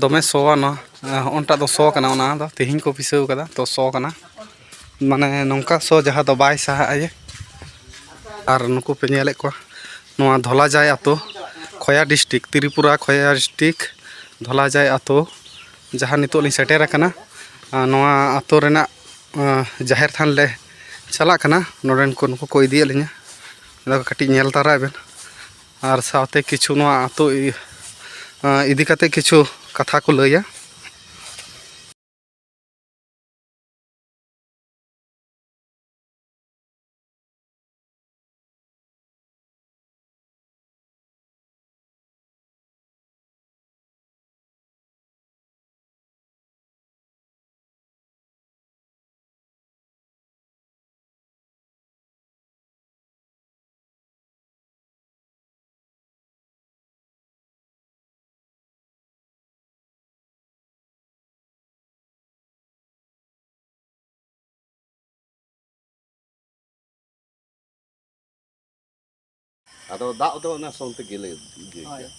ᱫᱚᱢᱮ ᱥᱚᱣᱟ ᱱᱚᱣᱟ ᱦᱚᱸᱜᱼᱚᱱᱴᱟᱜ ᱫᱚ ᱥᱚ ᱠᱟᱱᱟ ᱚᱱᱟ ᱫᱚ ᱛᱮᱦᱮᱧ ᱠᱚ ᱯᱤᱥᱟᱹᱣ ᱠᱟᱫᱟ ᱛᱚ ᱥᱚ ᱠᱟᱱᱟ ᱢᱟᱱᱮ ᱱᱚᱝᱠᱟ ᱥᱚ ᱡᱟᱦᱟᱸ ᱫᱚ ᱵᱟᱭ ᱥᱟᱦᱟᱜᱼᱟ ᱡᱮ ᱟᱨ ᱱᱩᱠᱩ ᱯᱮ ᱧᱮᱞᱮᱫ ᱠᱚᱣᱟ ᱱᱚᱣᱟ ᱫᱷᱚᱞᱟᱡᱟᱭ ᱟᱛᱳ ᱠᱷᱚᱭᱟ ᱰᱤᱥᱴᱤᱠ ᱛᱨᱤᱯᱩᱨᱟ ᱠᱷᱚᱭᱟ ᱰᱤᱥᱴᱤᱠ ᱫᱷᱚᱞᱟᱡᱟᱭ ᱟᱛᱳ ᱡᱟᱦᱟᱸ ᱱᱤᱛᱚᱜ ᱞᱤᱧ ᱥᱮᱴᱮᱨ ᱟᱠᱟᱱᱟ ᱱᱚᱣᱟ ᱟᱛᱳ ᱨᱮᱱᱟᱜ ᱡᱟᱦᱮᱨ ᱛᱷᱟᱱ ᱞᱮ ᱪᱟᱞᱟᱜ ᱠᱟᱱᱟ ᱱᱚᱰᱮᱱ ᱠᱚ ᱱᱩᱠᱩ ᱠᱚ ᱤᱫᱤᱭᱮᱫ ᱞᱤᱧᱟᱹ ᱟᱫᱚ ᱠᱟᱹᱴᱤᱡ ᱧᱮᱞ ᱛᱟᱨᱟᱭ ᱵᱮᱱ ᱟᱨ ᱥᱟᱶᱛᱮ ᱠᱤᱪᱷᱩ ᱱᱚᱣᱟ ᱟᱛᱳ ᱤᱫᱤ ᱠᱟᱛᱮ ᱠᱤᱪᱷᱩ ᱠᱟᱛᱷᱟ ᱠᱚ ᱞᱟᱹᱭᱟ ᱟᱫᱚ ᱫᱟᱜ ᱫᱚ ᱚᱱᱟ ᱥᱚᱝ ᱛᱮᱜᱮᱞᱮ ᱤᱭᱟᱹᱭ ᱜᱮᱭᱟ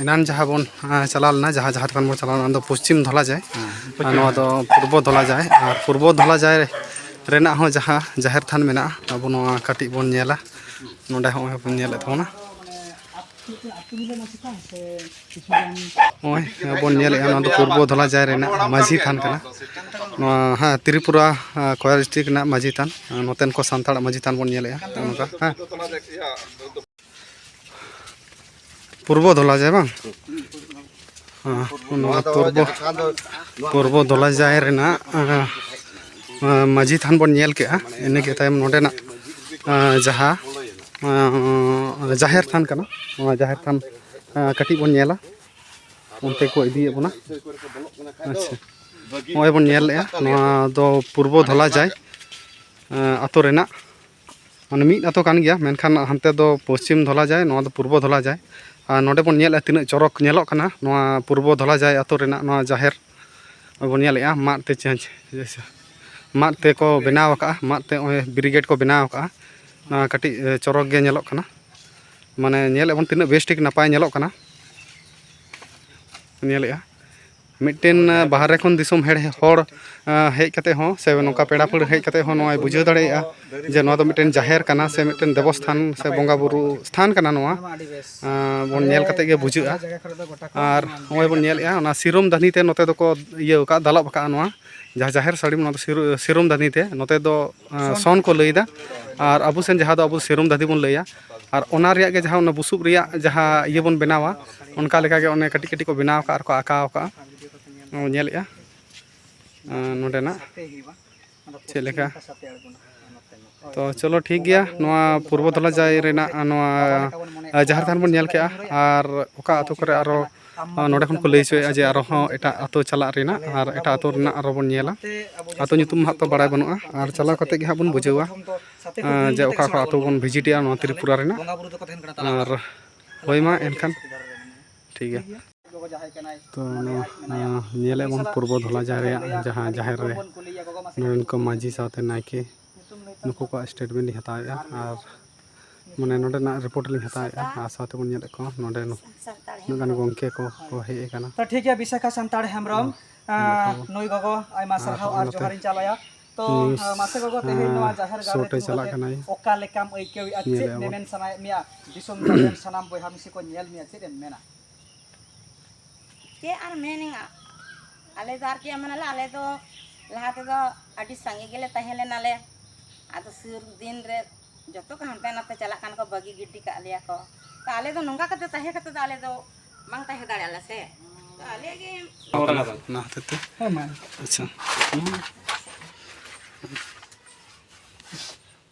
ᱮᱱᱟᱱ ᱡᱟᱦᱟᱸ ᱵᱚᱱ ᱪᱟᱞᱟᱣ ᱞᱮᱱᱟ ᱡᱟᱦᱟᱸ ᱡᱟᱦᱟᱸ ᱛᱮᱵᱚᱱ ᱪᱟᱞᱟᱣ ᱞᱮᱱᱟ ᱚᱱᱟ ᱫᱚ ᱯᱚᱥᱪᱤᱢ ᱫᱷᱚᱞᱟ ᱡᱟᱭ ᱟᱨ ᱱᱚᱣᱟ ᱫᱚ ᱯᱩᱨᱵᱚ ᱫᱷᱚᱞᱟ ᱡᱟᱭ ᱟᱨ ᱯᱩᱨᱵᱚ ᱫᱷᱚᱞᱟ ᱡᱟᱭ ᱨᱮᱱᱟᱜ ᱦᱚᱸ ᱡᱟᱦᱟᱸ ᱡᱟᱦᱮᱨ ᱛᱷᱟᱱ ᱢᱮᱱᱟᱜᱼᱟ ᱟᱵᱚ ᱱᱚᱣᱟ ᱠᱟᱹᱴᱤᱡ ᱵᱚᱱ ᱧᱮᱞᱟ ᱱᱚᱰᱮ ᱦᱚᱸᱜᱼᱚᱭ ᱵᱚᱱ ᱧᱮᱞᱮᱫ ᱛᱟᱵᱚᱱᱟ ᱱᱚᱜᱼᱚᱭ ᱵᱚᱱ ᱧᱮᱞᱮᱫᱼᱟ ᱱᱚᱣᱟ ᱫᱚ ᱯᱩᱨᱵᱚ ᱫᱷᱚᱞᱟ ᱡᱟᱭ ᱨᱮᱱᱟᱜ ᱢᱟᱹᱡᱷᱤ ᱛᱷᱟᱱ ᱠᱟᱱᱟ ᱱᱚᱣᱟ ᱦᱮᱸ ᱛᱨᱤᱯᱩᱨᱟ ᱠᱚᱭᱟ ᱰᱤᱥᱴᱨᱤᱠ ᱨᱮᱱᱟᱜ ᱢᱟᱹᱡᱷᱤ ᱛᱷᱟᱱ ᱱᱚᱛᱮᱱ ᱠᱚ ᱥᱟᱱᱛᱟᱲᱟᱜ ᱢᱟᱹᱡᱷᱤ ᱛᱷᱟᱱ ᱵᱚᱱ ᱧᱮᱞᱮᱫᱼᱟ ᱱᱚᱝᱠᱟ ᱦᱮᱸ ᱯᱩᱨᱵᱚ ᱫᱷᱚᱞᱟ ᱡᱟᱭ ᱵᱟᱝ ᱱᱚᱣᱟ ᱯᱩᱨᱵᱚ ᱯᱩᱨᱵᱚ ᱫᱷᱚᱞᱟ ᱡᱟᱭ ᱨᱮᱱᱟᱜ ᱢᱟᱹᱡᱷᱤ ᱛᱷᱟᱱ ᱵᱚᱱ ᱧᱮᱞ ᱠᱮᱜᱼᱟ ᱤᱱᱟᱹᱜᱮ ᱛᱟᱭᱚᱢ ᱱᱚᱰᱮᱱᱟᱜ ᱡᱟᱦᱟᱸ ᱡᱟᱦᱮᱨ ᱛᱷᱟᱱ ᱠᱟᱱᱟ ᱱᱚᱣᱟ ᱡᱟᱦᱮᱨ ᱛᱷᱟᱱ ᱠᱟᱹᱴᱤᱡ ᱵᱚᱱ ᱧᱮᱞᱟ ᱚᱱᱛᱮ ᱠᱚ ᱤᱫᱤᱭᱮᱫ ᱵᱚᱱᱟ ᱟᱪᱪᱷᱟ ᱱᱚᱜᱼᱚᱭ ᱵᱚᱱ ᱧᱮᱞᱮᱜᱼᱟ ᱱᱚᱣᱟ ᱫᱚ ᱯᱩᱨᱵᱚ ᱫᱷᱚᱞᱟ ᱡᱟᱭ ᱟᱛᱳ ᱨᱮᱱᱟᱜ ᱢᱟᱱᱮ ᱢᱤᱫ ᱟᱛᱳ ᱠᱟᱱ ᱜᱮᱭᱟ ᱢᱮᱱᱠᱷᱟᱱ ᱦᱟᱱᱛᱮ ᱫᱚ ᱯᱚᱥᱪᱤᱢ ᱫᱷᱚᱞᱟ ᱡᱟᱭ ᱱᱚᱣᱟ ᱫᱚ ᱯᱩᱨᱵᱚ ᱫᱷᱚᱞᱟ ᱡᱟᱭ ᱟᱨ ᱱᱚᱰᱮ ᱵᱚᱱ ᱧᱮᱞᱮᱜᱼᱟ ᱛᱤᱱᱟᱹᱜ ᱪᱚᱨᱚᱠ ᱧᱮᱞᱚᱜ ᱠᱟᱱᱟ ᱱᱚᱣᱟ ᱯᱩᱨᱵᱚ ᱫᱷᱚᱞᱟ ᱡᱟᱭ ᱟᱛᱳ ᱨᱮᱱᱟᱜ ᱱᱚᱣᱟ ᱡᱟᱦᱮᱨ ᱵᱚᱱ ᱧᱮᱞᱮᱜᱼᱟ ᱢᱟᱫ ᱛᱮ ᱪᱮᱸᱪ ᱢᱟᱫ ᱛᱮᱠᱚ ᱵᱮᱱᱟᱣ ᱟᱠᱟᱜᱼᱟ ᱢᱟᱫ ᱛᱮ ᱱᱚᱜᱼᱚᱸᱭ ᱵᱮᱨᱤᱜᱮᱴ ᱠᱚ ᱵᱮᱱᱟᱣ ᱟᱠᱟᱜᱼᱟ ᱱᱚᱣᱟ ᱠᱟᱹᱴᱤᱡ ᱪᱚᱨᱚᱠ ᱜᱮ ᱧᱮᱞᱚᱜ ᱠᱟᱱᱟ ᱢᱟᱱᱮ ᱧᱮᱞᱮᱜᱼᱟ ᱵᱚᱱ ᱛᱤᱱᱟᱹᱜ ᱵᱮᱥ ᱴᱷᱤᱠ ᱱᱟᱯᱟᱭ ᱧᱮᱞᱚᱜ ᱠᱟᱱᱟ ᱧᱮᱞᱮᱜᱼᱟ ᱢᱤᱫᱴᱮᱱ ᱵᱟᱦᱨᱮ ᱠᱷᱚᱱ ᱫᱤᱥᱚᱢ ᱦᱮᱲ ᱦᱚᱲ ᱦᱮᱡ ᱠᱟᱛᱮ ᱦᱚᱸ ᱥᱮ ᱱᱚᱝᱠᱟ ᱯᱮᱲᱟ ᱯᱟᱹᱲᱦᱟᱹ ᱦᱮᱡ ᱠᱟᱛᱮ ᱦᱚᱸ ᱱᱚᱣᱟᱭ ᱵᱩᱡᱷᱟᱹᱣ ᱫᱟᱲᱮᱭᱟᱜᱼᱟ ᱡᱮ ᱱᱚᱣᱟ ᱫᱚ ᱢᱤᱫᱴᱮᱱ ᱡᱟᱦᱮᱨ ᱠᱟᱱᱟ ᱥᱮ ᱢᱤᱫᱴᱮᱱ ᱫᱮᱵᱚ ᱥᱛᱷᱟᱱ ᱥᱮ ᱵᱚᱸᱜᱟ ᱵᱳᱨᱳ ᱥᱛᱷᱟᱱ ᱠᱟᱱᱟ ᱱᱚᱣᱟ ᱵᱚᱱ ᱧᱮᱞ ᱠᱟᱛᱮ ᱜᱮ ᱵᱩᱡᱷᱟᱹᱜᱼᱟ ᱟᱨ ᱱᱚᱜᱼᱚᱭ ᱵᱚᱱ ᱧᱮᱞᱮᱜᱼᱟ ᱚᱱᱟ ᱥᱤᱨᱚᱢ ᱫᱟᱹᱱᱦᱤ ᱛᱮ ᱱᱚᱛᱮ ᱫᱚᱠᱚ ᱤᱭᱟᱹᱣ ᱠᱟᱜᱼᱟ ᱫᱟᱞᱚᱵ ᱠᱟᱜᱼᱟ ᱱᱚᱣᱟ ᱡᱟᱦᱟᱸ ᱡᱟᱦᱮᱨ ᱥᱟᱹᱲᱤᱢ ᱱᱚᱣᱟ ᱫᱚ ᱥᱤᱨᱚᱢ ᱫᱟᱹᱱᱦᱤ ᱛᱮ ᱱᱚᱛᱮ ᱫᱚ ᱥᱚᱱ ᱠᱚ ᱞᱟᱹᱭᱫᱟ ᱟᱨ ᱟᱵᱚ ᱥᱮᱱ ᱡᱟᱦᱟᱸ ᱫᱚ ᱟᱵᱚ ᱥᱮᱨᱚᱢ ᱫᱟᱹᱫᱷᱤ ᱵᱚᱱ ᱞᱟᱹᱭᱟ ᱟᱨ ᱚᱱᱟ ᱨᱮᱭᱟᱜ ᱜᱮ ᱡᱟᱦᱟᱸ ᱚᱱᱟ ᱵᱩᱥᱩᱵ ᱨᱮᱭᱟᱜ ᱡᱟᱦᱟᱸ ᱤᱭᱟᱹ ᱵᱚᱱ ᱵᱮᱱᱟᱣᱟ ᱚᱱᱠᱟ ᱞᱮᱠᱟᱜᱮ ᱚᱱᱮ ᱠᱟᱹᱴᱤᱡ ᱠᱟᱹᱴᱤᱡ ᱠᱚ ᱵᱮᱱᱟᱣ ᱠᱟᱜᱼᱟ ᱟᱨ ᱠᱚ ᱟᱸᱠᱟᱣ ᱠᱟᱜᱼᱟ ᱱᱚᱣᱟ ᱧᱮᱞᱮᱜᱼᱟ ᱱᱚᱰᱮᱱᱟᱜ ᱪᱮᱫ ᱞᱮᱠᱟ ᱛᱚ ᱪᱚᱞᱚ ᱴᱷᱤᱠ ᱜᱮᱭᱟ ᱱᱚᱣᱟ ᱯᱩᱨᱵᱚ ᱫᱷᱚᱞᱟᱡᱟᱭ ᱨᱮᱱᱟᱜ ᱱᱚᱣᱟ ᱡᱟᱦᱮᱨ ᱛᱷᱟᱱ ᱵᱚᱱ ᱧᱮᱞ ᱠᱮᱜᱼᱟ ᱟᱨ ᱚᱠᱟ ᱟᱛᱳ ᱠᱚᱨᱮ ᱟᱨᱚ ᱱᱚᱰᱮ ᱠᱷᱚᱱ ᱠᱚ ᱞᱟᱹᱭ ᱦᱚᱪᱚᱭᱮᱫᱼᱟ ᱡᱮ ᱟᱨᱚ ᱦᱚᱸ ᱮᱴᱟᱜ ᱟᱛᱳ ᱪᱟᱞᱟᱜ ᱨᱮᱱᱟᱜ ᱟᱨ ᱮᱴᱟᱜ ᱟᱛᱳ ᱨᱮᱱᱟᱜ ᱟᱨᱚ ᱵᱚᱱ ᱧᱮᱞᱟ ᱟᱛᱳ ᱧᱩᱛᱩᱢ ᱦᱟᱸᱜ ᱛᱚ ᱵᱟᱲᱟᱭ ᱵᱟᱹᱱᱩᱜᱼᱟ ᱟᱨ ᱪᱟᱞᱟᱣ ᱠᱟᱛᱮ ᱜᱮ ᱦᱟᱸᱜ ᱵᱚᱱ ᱵᱩᱡᱷᱟᱹᱣᱟ ᱡᱮ ᱚᱠᱟ ᱚᱠᱟ ᱟᱛᱳ ᱵᱚᱱ ᱵᱷᱤᱡᱤᱴᱮᱜᱼᱟ ᱱᱚᱣᱟ ᱛᱨᱤᱯᱩᱨᱟ ᱨᱮᱱᱟᱜ ᱟᱨ ᱦᱳᱭ ᱢᱟ ᱮᱱᱠᱷᱟᱱ ᱴᱷᱤᱠ ᱜᱮᱭᱟ ᱛᱚ ᱱᱚᱣᱟ ᱧᱮᱞᱮᱫ ᱵᱚᱱ ᱯᱩᱨᱵᱚ ᱫᱷᱚᱞᱟ ᱡᱟᱦᱮᱨ ᱨᱮᱭᱟᱜ ᱡᱟᱦᱟᱸ ᱡᱟᱦᱮᱨ ᱨᱮ ᱱᱚᱰᱮᱱ ᱠᱚ ᱢᱟᱺᱡᱷᱤ ᱥᱟᱶᱛᱮ ᱱᱟᱭᱠᱮ ᱱᱩᱠᱩ ᱠᱚᱣᱟᱜ ᱥᱴᱮᱴᱢᱮᱱᱴ ᱞᱤᱧ ᱦᱟᱛᱟᱣᱮᱫᱼᱟ ᱟᱨ ᱢᱟᱱᱮ ᱱᱚᱰᱮᱱᱟᱜ ᱨᱤᱯᱳᱨᱴ ᱞᱤᱧ ᱦᱟᱛᱟᱣᱮᱫᱼᱟ ᱟᱨ ᱥᱟᱶᱛᱮ ᱵᱚᱱ ᱧᱮᱞᱮᱫ ᱠᱚᱣᱟ ᱱᱚᱰᱮ ᱩᱱᱟᱹᱜ ᱜᱟᱱ ᱜᱚᱢᱠᱮ ᱠᱚ ᱠᱚ ᱦᱮᱡ ᱟᱠᱟᱱᱟ ᱛᱚ ᱴᱷᱤᱠ ᱜᱮᱭᱟ ᱵᱤᱥᱟᱠᱷᱟ ᱥᱟᱱᱛᱟᱲ ᱦᱮᱢᱵᱨᱚᱢ ᱱᱩᱭ ᱜᱚᱜᱚ ᱟᱭᱢᱟ ᱥᱟᱨᱦᱟᱣ ᱟᱨ ᱡᱚᱦᱟᱨᱤᱧ ᱪᱟᱞᱟᱭᱟ ᱛᱚ ᱢᱟᱥᱮ ᱜᱚᱜᱚ ᱛᱮᱦᱮᱧ ᱱᱚᱣᱟ ᱡᱟᱦᱮᱨ ᱜᱟᱲ ᱨᱮ ᱪᱟᱞᱟᱜ ᱠᱟᱱᱟᱭ ᱚᱠᱟ ᱞᱮᱠᱟᱢ ᱟᱹᱭᱠᱟᱹᱣᱮᱫᱼᱟ ᱪᱮᱫ ᱢᱮᱢᱮᱱ ᱥᱟᱱᱟᱭᱮᱫ ᱢᱮᱭᱟ ᱫᱤᱥᱚᱢ ᱥᱟᱱᱟᱢ ᱵᱚᱭᱦᱟ ᱢᱤᱥᱤ ᱠᱚ ᱧᱮᱞ ᱢᱮᱭᱟ ᱪᱮᱫ ᱮᱢ ᱢᱮᱱᱟ ᱪᱮᱫ ᱟᱨ ᱢᱮᱱᱮᱜᱼᱟ ᱟᱞᱮ ᱫᱚ ᱟᱨ ᱪᱮᱫ ᱮᱢ ᱢᱮᱱᱟᱞᱮ ᱟᱞᱮ ᱫᱚ ᱞᱟᱦᱟ ᱛᱮᱫᱚ ᱟᱹᱰᱤ ᱥᱟᱸᱜᱮ ᱜᱮᱞᱮ ᱛᱟᱦᱮᱸ ᱞᱮᱱᱟᱞᱮ ᱟᱫᱚ ᱥᱩᱨ ᱫᱤᱱ ᱨᱮ ᱡᱚᱛᱚ ᱠᱚ ᱦᱟᱱᱛᱮ ᱱᱟᱛᱮ ᱪᱟᱞᱟᱜ ᱠᱟᱱᱟ ᱠᱚ ᱵᱟᱹᱜᱤ ᱜᱤᱰᱤ ᱠᱟᱜ ᱞᱮᱭᱟ ᱠᱚ ᱛᱚ ᱟᱞᱮ ᱫᱚ ᱱᱚᱝᱠᱟ ᱠᱟᱛᱮ ᱛᱟᱦᱮᱸ ᱠᱟᱛᱮ ᱫᱚ ᱟᱞᱮ ᱫᱚ ᱵᱟᱝ ᱛᱟᱦᱮᱸ ᱫᱟᱲᱮᱭᱟᱜ ᱟᱞᱮ ᱥᱮ ᱛᱚ ᱟᱞᱮ ᱜᱮ ᱚᱱᱟ ᱦᱚᱛᱮᱡ ᱛᱮ ᱟᱪᱪᱷᱟ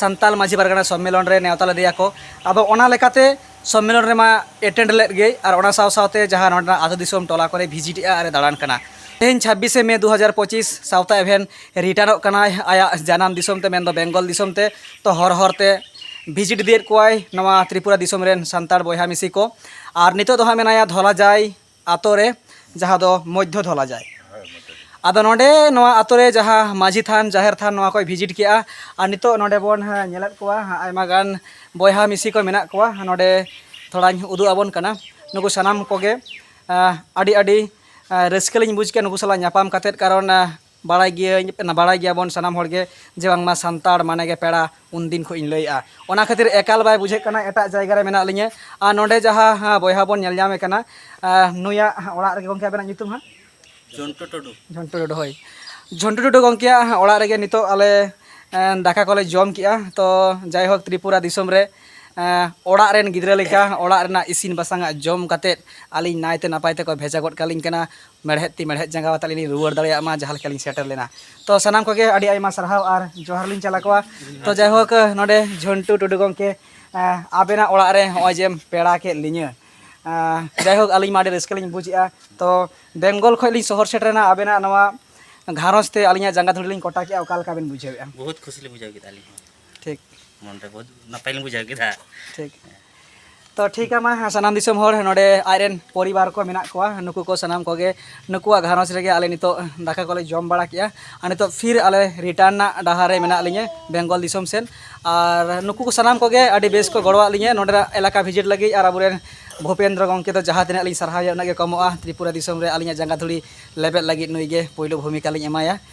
ᱥᱟᱱᱛᱟᱞ ᱢᱟᱹᱡᱷᱤ ᱯᱟᱨᱜᱟᱱᱟ ᱥᱚᱢᱢᱮᱞᱚᱱ ᱨᱮ ᱱᱮᱣᱛᱟ ᱞᱮᱫᱮᱭᱟ ᱠᱚ ᱟᱫᱚ ᱚᱱᱟ ᱞᱮᱠᱟᱛᱮ ᱥᱚᱢᱢᱮᱞᱚᱱ ᱨᱮᱢᱟ ᱮᱴᱮᱱᱰ ᱞᱮᱫ ᱜᱮᱭ ᱟᱨ ᱚᱱᱟ ᱥᱟᱶ ᱥᱟᱶᱛᱮ ᱡᱟᱦᱟᱸ ᱱᱚᱰᱮᱱᱟᱜ ᱟᱹᱛᱩ ᱫᱤᱥᱚᱢ ᱴᱚᱞᱟ ᱠᱚᱨᱮ ᱵᱷᱤᱡᱤᱴ ᱮᱫᱼᱟ ᱟᱨᱮ ᱫᱟᱬᱟᱱ ᱠᱟᱱᱟ ᱛᱮᱦᱮᱧ ᱪᱷᱟᱵᱽᱵᱤᱥᱮ ᱢᱮ ᱫᱩ ᱦᱟᱡᱟᱨ ᱯᱚᱸᱪᱤᱥ ᱥᱟᱶᱛᱟ ᱮᱵᱷᱮᱱ ᱨᱤᱴᱟᱨᱱᱚᱜ ᱠᱟᱱᱟᱭ ᱟᱭᱟᱜ ᱡᱟᱱᱟᱢ ᱫᱤᱥᱚᱢ ᱛᱮ ᱢᱮᱱᱫᱚ ᱵᱮᱝᱜᱚᱞ ᱫᱤᱥᱚᱢ ᱛᱮ ᱛᱚ ᱦᱚᱨ ᱦᱚᱨ ᱛᱮ ᱵᱷᱤᱡᱤᱴ ᱤᱫᱤᱭᱮᱫ ᱠᱚᱣᱟᱭ ᱱᱚᱣᱟ ᱛᱨᱤᱯᱩᱨᱟ ᱫᱤᱥᱚᱢ ᱨᱮᱱ ᱥᱟᱱᱛᱟᱲ ᱵᱚᱭᱦᱟ ᱢᱤᱥᱤ ᱠᱚ ᱟᱨ ᱱᱤᱛᱚᱜ ᱫᱚ ᱦᱟᱸᱜ ᱢᱮᱱᱟᱭᱟ ᱫᱷᱚᱞᱟᱡᱟᱭ ᱟᱛᱳ ᱨᱮ ᱡᱟᱦᱟᱸ ᱫᱚ ᱢᱚᱫᱽᱫᱷᱚ ᱫᱷᱚᱞᱟ ᱡᱟᱭ ᱟᱫᱚ ᱱᱚᱰᱮ ᱱᱚᱣᱟ ᱟᱛᱳ ᱨᱮ ᱡᱟᱦᱟᱸ ᱢᱟᱹᱡᱷᱤ ᱛᱷᱟᱱ ᱡᱟᱦᱮᱨ ᱛᱷᱟᱱ ᱱᱚᱣᱟ ᱠᱚᱭ ᱵᱷᱤᱡᱤᱴ ᱠᱮᱜᱼᱟ ᱟᱨ ᱱᱤᱛᱚᱜ ᱱᱚᱰᱮ ᱵᱚᱱ ᱧᱮᱞᱮᱫ ᱠᱚᱣᱟ ᱟᱭᱢᱟ ᱜᱟᱱ ᱵᱚᱭᱦᱟ ᱢᱤᱥᱤ ᱠᱚ ᱢᱮᱱᱟᱜ ᱠᱚᱣᱟ ᱱᱚᱰᱮ ᱛᱷᱚᱲᱟᱧ ᱩᱫᱩᱜ ᱟᱵᱚᱱ ᱠᱟᱱᱟ ᱱᱩᱠᱩ ᱥᱟᱱᱟᱢ ᱠᱚᱜᱮ ᱟᱹᱰᱤ ᱟᱹᱰᱤ ᱨᱟᱹᱥᱠᱟᱹ ᱞᱤᱧ ᱵᱩᱡᱽ ᱠᱮᱜᱼᱟ ᱱᱩᱠᱩ ᱥᱟᱞᱟᱜ ᱧᱟᱯᱟᱢ ᱠᱟᱛᱮᱫ ᱠᱟᱨᱚᱱ ᱵᱟᱲᱟᱭ ᱜᱮᱭᱟᱹᱧ ᱵᱟᱲᱟᱭ ᱜᱮᱭᱟ ᱵᱚᱱ ᱥᱟᱱᱟᱢ ᱦᱚᱲ ᱜᱮ ᱡᱮ ᱵᱟᱝ ᱢᱟ ᱥᱟᱱᱛᱟᱲ ᱢᱟᱱᱮ ᱜᱮ ᱯᱮᱲᱟ ᱩᱱ ᱫᱤᱱ ᱠᱷᱚᱱ ᱤᱧ ᱞᱟᱹᱭᱮᱜᱼᱟ ᱚᱱᱟ ᱠᱷᱟᱹᱛᱤᱨ ᱮᱠᱟᱞ ᱵᱟᱭ ᱵᱩᱡᱷᱟᱹᱜ ᱠᱟᱱᱟ ᱮᱴᱟᱜ ᱡᱟᱭᱜᱟ ᱨᱮ ᱢᱮᱱᱟᱜ ᱞᱤᱧᱟᱹ ᱟᱨ ᱱᱚᱰᱮ ᱡᱟᱦᱟᱸ ᱵᱚᱭᱦᱟ ᱵᱚᱱ ᱧᱮᱞ ᱧᱟᱢᱮ ᱠᱟᱱᱟ ᱱᱩᱭᱟᱜ ᱚᱲᱟᱜ ᱨᱮᱜᱮ ᱜᱚᱝᱠᱮ ᱟᱵᱮᱱᱟᱜ ᱧᱩᱛᱩᱢ ᱦᱟᱸᱜ ᱡᱷᱚᱱᱴᱩ ᱴᱩᱰᱩ ᱡᱷᱚᱱᱴᱩ ᱴᱩᱰᱩ ᱦᱳᱭ ᱡᱷᱚᱱᱴᱩ ᱴᱩᱰᱩ ᱜᱚᱝᱠᱮᱭᱟᱜ ᱚᱲᱟᱜ ᱨᱮᱜᱮ ᱱᱤᱛᱚᱜ ᱟᱞᱮ ᱫᱟᱠᱟ ᱠᱚᱞᱮ ᱡᱚᱢ ᱠᱮᱜᱼᱟ ᱛᱚ ᱡᱟᱭᱦᱳᱠ ᱛᱨᱤᱯᱩᱨᱟ ᱫᱤᱥᱚᱢ ᱨᱮ ᱚᱲᱟᱜ ᱨᱮᱱ ᱜᱤᱫᱽᱨᱟᱹ ᱞᱮᱠᱟ ᱚᱲᱟᱜ ᱨᱮᱱᱟᱜ ᱤᱥᱤᱱ ᱵᱟᱥᱟᱝᱟᱜ ᱡᱚᱢ ᱠᱟᱛᱮᱫ ᱟᱹᱞᱤᱧ ᱱᱟᱭᱛᱮ ᱱᱟᱯᱟᱭ ᱛᱮᱠᱚ ᱵᱷᱮᱡᱟ ᱜᱚᱫ ᱠᱟᱹᱞᱤᱧ ᱠᱟᱱᱟ ᱢᱮᱲᱦᱮᱫ ᱛᱤ ᱢᱮᱲᱦᱮᱫ ᱡᱟᱸᱜᱟ ᱟᱛᱮ ᱞᱤᱧ ᱨᱩᱣᱟᱹᱲ ᱫᱟᱲᱮᱭᱟᱜ ᱢᱟ ᱡᱟᱦᱟᱸ ᱞᱮᱠᱟ ᱞᱤᱧ ᱥᱮᱴᱮᱨ ᱞᱮᱱᱟ ᱛᱚ ᱥᱟᱱᱟᱢ ᱠᱚᱜᱮ ᱟᱹᱰᱤ ᱟᱭᱢᱟ ᱥᱟᱨᱦᱟᱣ ᱟᱨ ᱡᱚᱦᱟᱨ ᱞᱤᱧ ᱪᱟᱞᱟ ᱠᱚᱣᱟ ᱛᱚ ᱡᱟᱭᱦᱳᱠ ᱱᱚᱰᱮ ᱡᱷᱚᱱᱴᱩ ᱴᱩᱰᱩ ᱜᱚᱢᱠᱮ ᱟᱵᱮᱱᱟᱜ ᱚᱲᱟᱜ ᱨᱮ ᱱᱚᱜᱼᱚᱭ ᱡᱮᱢ ᱯᱮᱲᱟ ᱠᱮᱫ ᱞᱤᱧᱟᱹ ᱡᱟᱭᱦᱳᱠ ᱟᱹᱞᱤᱧ ᱢᱟ ᱟᱹᱰᱤ ᱨᱟᱹᱥᱠᱟᱹ ᱞᱤᱧ ᱵᱩᱡᱮᱜᱼᱟ ᱛᱚ ᱵᱮᱝᱜᱚᱞ ᱠᱷᱚᱱ ᱞᱤᱧ ᱥᱚᱦᱚᱨ ᱥᱮᱴᱮᱨᱮᱱᱟ ᱟᱵᱮᱱᱟᱜ ᱱᱚᱣᱟ ᱜᱷᱟᱨᱚᱸᱡᱽ ᱛᱮ ᱟᱹᱞᱤᱧᱟᱜ ᱡᱟᱸᱜᱟ ᱫᱷᱩᱲᱤ ᱞᱤᱧ ᱠᱚᱴᱟ ᱠᱮᱜᱼᱟ ᱚᱠᱟ ᱞᱮᱠᱟ ᱵᱮᱱ ᱵᱩᱡᱷᱟᱹᱣᱮᱜᱼᱟ ᱵᱚᱦᱩᱛ ᱠᱷᱩᱥᱤ ᱞᱤᱧ ᱵᱩᱡᱷᱟᱹᱣ ᱠᱮᱫᱟ ᱟᱹᱞᱤᱧ ᱦᱚᱸ ᱴᱷᱤᱠ ᱢᱚᱱᱨᱮ ᱵᱚᱦᱩᱛ ᱱᱟᱯᱟᱭ ᱞᱤᱧ ᱵᱩᱡᱷᱟᱹᱣ ᱠᱮᱫᱟ ᱴᱷᱤᱠ ᱛᱚ ᱴᱷᱤᱠ ᱢᱟ ᱥᱟᱱᱟᱢ ᱫᱤᱥᱚᱢ ᱦᱚᱲ ᱱᱚᱰᱮ ᱟᱡᱨᱮᱱ ᱯᱚᱨᱤᱵᱟᱨ ᱠᱚ ᱢᱮᱱᱟᱜ ᱠᱚᱣᱟ ᱱᱩᱠᱩ ᱠᱚ ᱥᱟᱱᱟᱢ ᱠᱚᱜᱮ ᱱᱩᱠᱩᱣᱟᱜ ᱜᱷᱟᱨᱚᱸᱡᱽ ᱨᱮᱜᱮ ᱟᱞᱮ ᱱᱤᱛᱚᱜ ᱫᱟᱠᱟ ᱠᱚᱞᱮ ᱡᱚᱢ ᱵᱟᱲᱟ ᱠᱮᱜᱼᱟ ᱟᱨ ᱱᱤᱛᱚᱜ ᱯᱷᱤᱨ ᱟᱞᱮ ᱨᱤᱴᱟᱨᱱ ᱨᱮᱱᱟᱜ ᱰᱟᱦᱟᱨ ᱨᱮ ᱢᱮᱱᱟᱜ ᱞᱤᱧᱟᱹ ᱵᱮᱝᱜᱚᱞ ᱫᱤᱥᱚᱢ ᱥᱮᱫ ᱟᱨ ᱱᱩᱠᱩ ᱠᱚ ᱥᱟᱱᱟᱢ ᱠᱚᱜᱮ ᱟᱹᱰᱤ ᱵᱮᱥ ᱠᱚ ᱜᱚᱲᱚᱣᱟᱜ ᱞᱤᱧᱟᱹ ᱱᱚᱰᱮᱱᱟᱜ ᱮᱞᱟᱠᱟ ᱵᱷᱤᱡᱤᱴ ᱞᱟᱹᱜᱤᱫ ᱟᱨ ᱟᱵᱚᱨᱮᱱ ᱵᱷᱩᱯᱮᱱᱫᱨᱚ ᱜᱚᱢᱠᱮ ᱫᱚ ᱡᱟᱦᱟᱸ ᱛᱤᱱᱟᱹᱜ ᱞᱤᱧ ᱥᱟᱨᱦᱟᱣᱮᱭᱟ ᱩᱱᱟᱹᱜ ᱜᱮ ᱠᱚᱢᱚᱜᱼᱟ ᱛᱨᱤᱯᱩᱨᱟ ᱫᱤᱥᱚᱢ ᱨᱮ ᱟᱹᱞᱤᱧᱟᱜ ᱡᱟᱸᱜᱟ ᱫᱷᱩᱲᱤ ᱞᱮᱵᱮᱫ ᱞᱟᱹᱜᱤᱫ ᱱᱩᱭᱜᱮ ᱯᱳᱭᱞᱳ ᱵᱷᱩᱢᱤᱠᱟ ᱞᱤᱧ ᱮᱢᱟᱭᱟ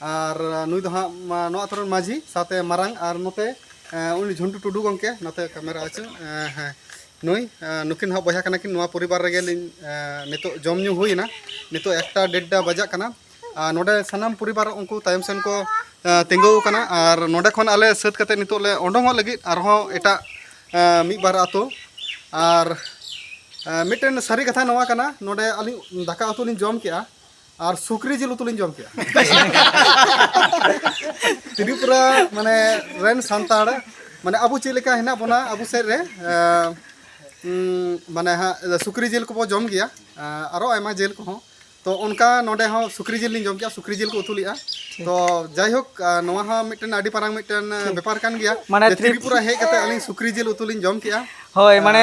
ᱟᱨ ᱱᱩᱭ ᱫᱚ ᱦᱟᱸᱜ ᱱᱚᱣᱟ ᱟᱛᱳ ᱨᱮᱱ ᱢᱟᱹᱡᱷᱤ ᱥᱟᱶᱛᱮ ᱢᱟᱨᱟᱝ ᱟᱨ ᱱᱚᱛᱮ ᱩᱱᱤ ᱡᱷᱩᱱᱴᱩ ᱴᱩᱰᱩ ᱜᱚᱢᱠᱮ ᱱᱚᱛᱮ ᱠᱮᱢᱮᱨᱟ ᱟᱹᱪᱩᱨ ᱦᱮᱸ ᱱᱩᱭ ᱱᱩᱠᱤᱱ ᱦᱟᱸᱜ ᱵᱚᱭᱦᱟ ᱠᱟᱱᱟ ᱠᱤᱱ ᱱᱚᱣᱟ ᱯᱚᱨᱤᱵᱟᱨ ᱨᱮᱜᱮ ᱞᱤᱧ ᱱᱤᱛᱚᱜ ᱡᱚᱢ ᱧᱩ ᱦᱩᱭᱮᱱᱟ ᱱᱤᱛᱚᱜ ᱮᱠᱴᱟ ᱰᱮᱰᱴᱟ ᱵᱟᱡᱟᱜ ᱠᱟᱱᱟ ᱟᱨ ᱱᱚᱰᱮ ᱥᱟᱱᱟᱢ ᱯᱚᱨᱤᱵᱟᱨ ᱩᱱᱠᱩ ᱛᱟᱭᱚᱢ ᱥᱮᱱ ᱠᱚ ᱛᱤᱸᱜᱩ ᱟᱠᱟᱱᱟ ᱟᱨ ᱱᱚᱰᱮ ᱠᱷᱚᱱ ᱟᱞᱮ ᱥᱟᱹᱛ ᱠᱟᱛᱮ ᱱᱤᱛᱚᱜ ᱞᱮ ᱚᱰᱚᱝᱚᱜ ᱞᱟᱹᱜᱤᱫ ᱟᱨᱦᱚᱸ ᱮᱴᱟᱜ ᱢᱤᱫ ᱵᱟᱨ ᱟᱛᱳ ᱟᱨ ᱢᱤᱫᱴᱮᱱ ᱥᱟᱹᱨᱤ ᱠᱟᱛᱷᱟ ᱱᱚᱣᱟ ᱠᱟᱱᱟ ᱱᱚᱰᱮ ᱟᱹᱞᱤᱧ ᱫᱟᱠᱟ ᱩᱛᱩ ᱞᱤᱧ ᱡᱚᱢ ᱠᱮᱜᱼᱟ ᱟᱨ ᱥᱩᱠᱨᱤ ᱡᱤᱞ ᱩᱛᱩ ᱞᱤᱧ ᱡᱚᱢ ᱠᱮᱫᱟ ᱛᱨᱤᱯᱩᱨᱟ ᱢᱟᱱᱮ ᱨᱮᱱ ᱥᱟᱱᱛᱟᱲ ᱢᱟᱱᱮ ᱟᱵᱚ ᱪᱮᱫ ᱞᱮᱠᱟ ᱦᱮᱱᱟᱜ ᱵᱚᱱᱟ ᱟᱵᱚ ᱥᱮᱫ ᱨᱮ ᱢᱟᱱᱮ ᱦᱟᱸᱜ ᱥᱩᱠᱨᱤ ᱡᱤᱞ ᱠᱚᱵᱚ ᱡᱚᱢ ᱜᱮᱭᱟ ᱟᱨᱚ ᱟᱭᱢᱟ ᱡᱤᱞ ᱠᱚᱦᱚᱸ ᱛᱚ ᱚᱱᱠᱟ ᱱᱚᱰᱮ ᱦᱚᱸ ᱥᱩᱠᱨᱤ ᱡᱤᱞ ᱞᱤᱧ ᱡᱚᱢ ᱠᱮᱫᱟ ᱥᱩᱠᱨᱤ ᱡᱤᱞ ᱠᱚ ᱩᱛᱩ ᱞᱮᱫᱼᱟ ᱛᱚ ᱡᱟᱭᱦᱳᱠ ᱱᱚᱣᱟ ᱦᱚᱸ ᱢᱤᱫᱴᱮᱱ ᱟᱹᱰᱤ ᱯᱟᱨᱟᱝ ᱢᱤᱫᱴᱮᱱ ᱵᱮᱯᱟᱨ ᱠᱟᱱ ᱜᱮᱭᱟ ᱢᱟᱱᱮ ᱛᱨᱤᱯᱩᱨᱟ ᱦᱮᱡ ᱠᱟᱛᱮ ᱟᱹᱞᱤᱧ ᱥᱩᱠᱨᱤ ᱡᱤᱞ ᱩᱛᱩ ᱞᱤᱧ ᱡᱚᱢ ᱠᱮᱫᱼᱟ ᱦᱳᱭ ᱢᱟᱱᱮ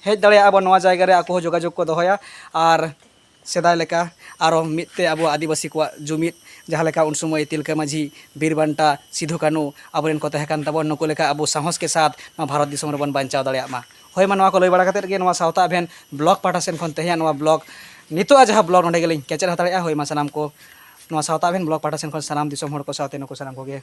ᱦᱮᱡ ᱫᱟᱲᱮᱭᱟᱜᱼᱟ ᱵᱚᱱ ᱱᱚᱣᱟ ᱡᱟᱭᱜᱟ ᱨᱮ ᱟᱠᱚ ᱦᱚᱸ ᱡᱳᱜᱟᱡᱳᱜᱽ ᱠᱚ ᱫᱚᱦᱚᱭᱟ ᱟᱨ ᱥᱮᱫᱟᱭ ᱞᱮᱠᱟ ᱟᱨᱚ ᱢᱤᱫ ᱛᱮ ᱟᱵᱚ ᱟᱹᱫᱤᱵᱟᱹᱥᱤ ᱠᱚᱣᱟᱜ ᱡᱩᱢᱤᱫ ᱡᱟᱦᱟᱸ ᱞᱮᱠᱟ ᱩᱱ ᱥᱚᱢᱚᱭ ᱛᱤᱞᱠᱟᱹ ᱢᱟᱹᱡᱷᱤ ᱵᱤᱨ ᱵᱟᱱᱴᱟ ᱥᱤᱫᱷᱩ ᱠᱟᱹᱱᱩ ᱟᱵᱚ ᱨᱮᱱ ᱠᱚ ᱛᱟᱦᱮᱸ ᱠᱟᱱ ᱛᱟᱵᱚᱱ ᱱᱩᱠᱩ ᱞᱮᱠᱟ ᱟᱵᱚ ᱥᱟᱦᱚᱥ ᱠᱮ ᱥᱟᱛᱷ ᱱᱚᱣᱟ ᱵᱷᱟᱨᱚᱛ ᱫᱤᱥᱚᱢ ᱨᱮᱵᱚᱱ ᱵᱟᱧᱪᱟᱣ ᱫᱟᱲᱮᱭᱟᱜ ᱢᱟ ᱦᱳᱭ ᱢᱟ ᱱᱚᱣᱟ ᱠᱚ ᱞᱟᱹᱭ ᱵᱟᱲᱟ ᱠᱟᱛᱮᱫ ᱜᱮ ᱱᱚᱣᱟ ᱥᱟᱶᱛᱟ ᱮᱵᱷᱮᱱ ᱵᱞᱚᱠ ᱯᱟᱦᱴᱟ ᱥᱮᱫ ᱠᱷᱚᱱ ᱛᱮᱦᱮᱧᱟᱜ ᱱᱚᱣᱟ ᱵᱞᱚᱠ ᱱᱤᱛᱚᱜᱼᱟᱜ ᱡᱟᱦᱟᱸ ᱵᱞᱚᱠ ᱱᱚᱰᱮ ᱜᱮᱞᱤᱧ ᱠᱮᱪᱮᱫ ᱦᱟᱛᱟᱲᱮᱜᱼᱟ ᱦᱳᱭ ᱢᱟ ᱥᱟᱱᱟᱢ ᱠᱚ ᱱᱚᱣᱟ ᱥᱟᱶᱛᱟ ᱮᱵᱷᱮᱱ ᱵᱞᱚᱠ ᱯᱟᱦᱴᱟ ᱥᱮᱫ ᱠᱷᱚᱱ ᱥᱟᱱᱟᱢ ᱫᱤᱥᱚᱢ ᱦᱚᱲ ᱠᱚ ᱥᱟᱶᱛᱮ ᱱᱩᱠᱩ ᱥᱟᱱᱟᱢ ᱠᱚᱜᱮ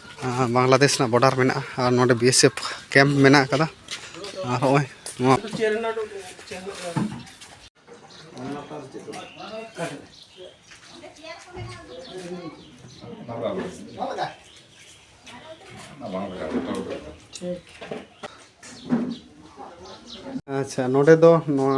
ᱵᱟᱝᱞᱟᱫᱮᱥ ᱨᱮᱱᱟᱜ ᱵᱚᱰᱟᱨ ᱢᱮᱱᱟᱜᱼᱟ ᱟᱨ ᱱᱚᱰᱮ ᱵᱤ ᱮᱥ ᱮᱯᱷ ᱠᱮᱢᱯ ᱢᱮᱱᱟᱜ ᱠᱟᱫᱟ ᱟᱨ ᱦᱚᱸᱜᱼᱚᱭ ᱱᱚᱣᱟ ᱟᱪᱪᱷᱟ ᱱᱚᱰᱮ ᱫᱚ ᱱᱚᱣᱟ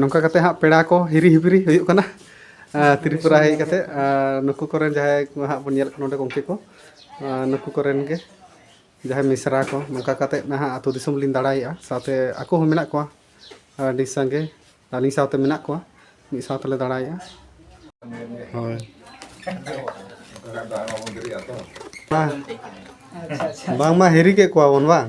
ᱱᱚᱝᱠᱟ ᱠᱟᱛᱮ ᱦᱟᱸᱜ ᱯᱮᱲᱟ ᱠᱚ ᱦᱤᱨᱤ ᱦᱤᱯᱤᱨᱤ ᱦᱩᱭᱩᱜ ᱠᱟᱱᱟ ᱛᱨᱤᱯᱩᱨᱟ ᱦᱮᱡ ᱠᱟᱛᱮ ᱱᱩᱠᱩ ᱠᱚᱨᱮᱱ ᱡᱟᱦᱟᱸᱭ ᱠᱚ ᱦᱟᱸᱜ ᱵᱚᱱ ᱧᱮᱞ ᱠᱚ ᱱᱚᱰᱮ ᱜᱚᱢᱠᱮ ᱠᱚ ᱱᱩᱠᱩ ᱠᱚᱨᱮᱱ ᱜᱮ ᱡᱟᱦᱟᱸᱭ ᱢᱤᱥᱨᱟ ᱠᱚ ᱱᱚᱝᱠᱟ ᱠᱟᱛᱮ ᱱᱟᱦᱟᱜ ᱟᱛᱳ ᱫᱤᱥᱚᱢ ᱞᱤᱧ ᱫᱟᱬᱟᱭᱮᱜᱼᱟ ᱥᱟᱶᱛᱮ ᱟᱠᱚ ᱦᱚᱸ ᱢᱮᱱᱟᱜ ᱠᱚᱣᱟ ᱟᱹᱰᱤ ᱥᱟᱸᱜᱮ ᱟᱹᱞᱤᱧ ᱥᱟᱶᱛᱮ ᱢᱮᱱᱟᱜ ᱠᱚᱣᱟ ᱢᱤᱫ ᱥᱟᱶ ᱛᱮᱞᱮ ᱫᱟᱬᱟᱭᱮᱜᱼᱟ ᱦᱳᱭ ᱵᱟᱝᱢᱟ ᱦᱤᱨᱤ ᱠᱮᱫ ᱠᱚᱣᱟ ᱵᱚᱱ ᱵᱟᱝ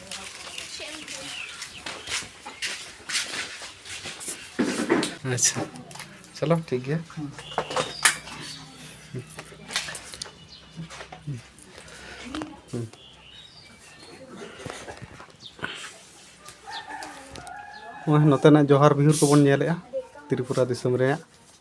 ᱟᱪᱪᱷᱟ ᱪᱚᱞᱚ ᱴᱷᱤᱠ ᱜᱮᱭᱟ ᱱᱚᱜᱼᱚᱭ ᱱᱚᱛᱮᱱᱟᱜ ᱡᱚᱦᱟᱨ ᱵᱤᱦᱩᱨ ᱠᱚᱵᱚᱱ ᱧᱮᱞᱮᱜᱼᱟ ᱛᱨᱤᱯᱩᱨᱟ ᱫᱤᱥᱚᱢ ᱨᱮᱭᱟᱜ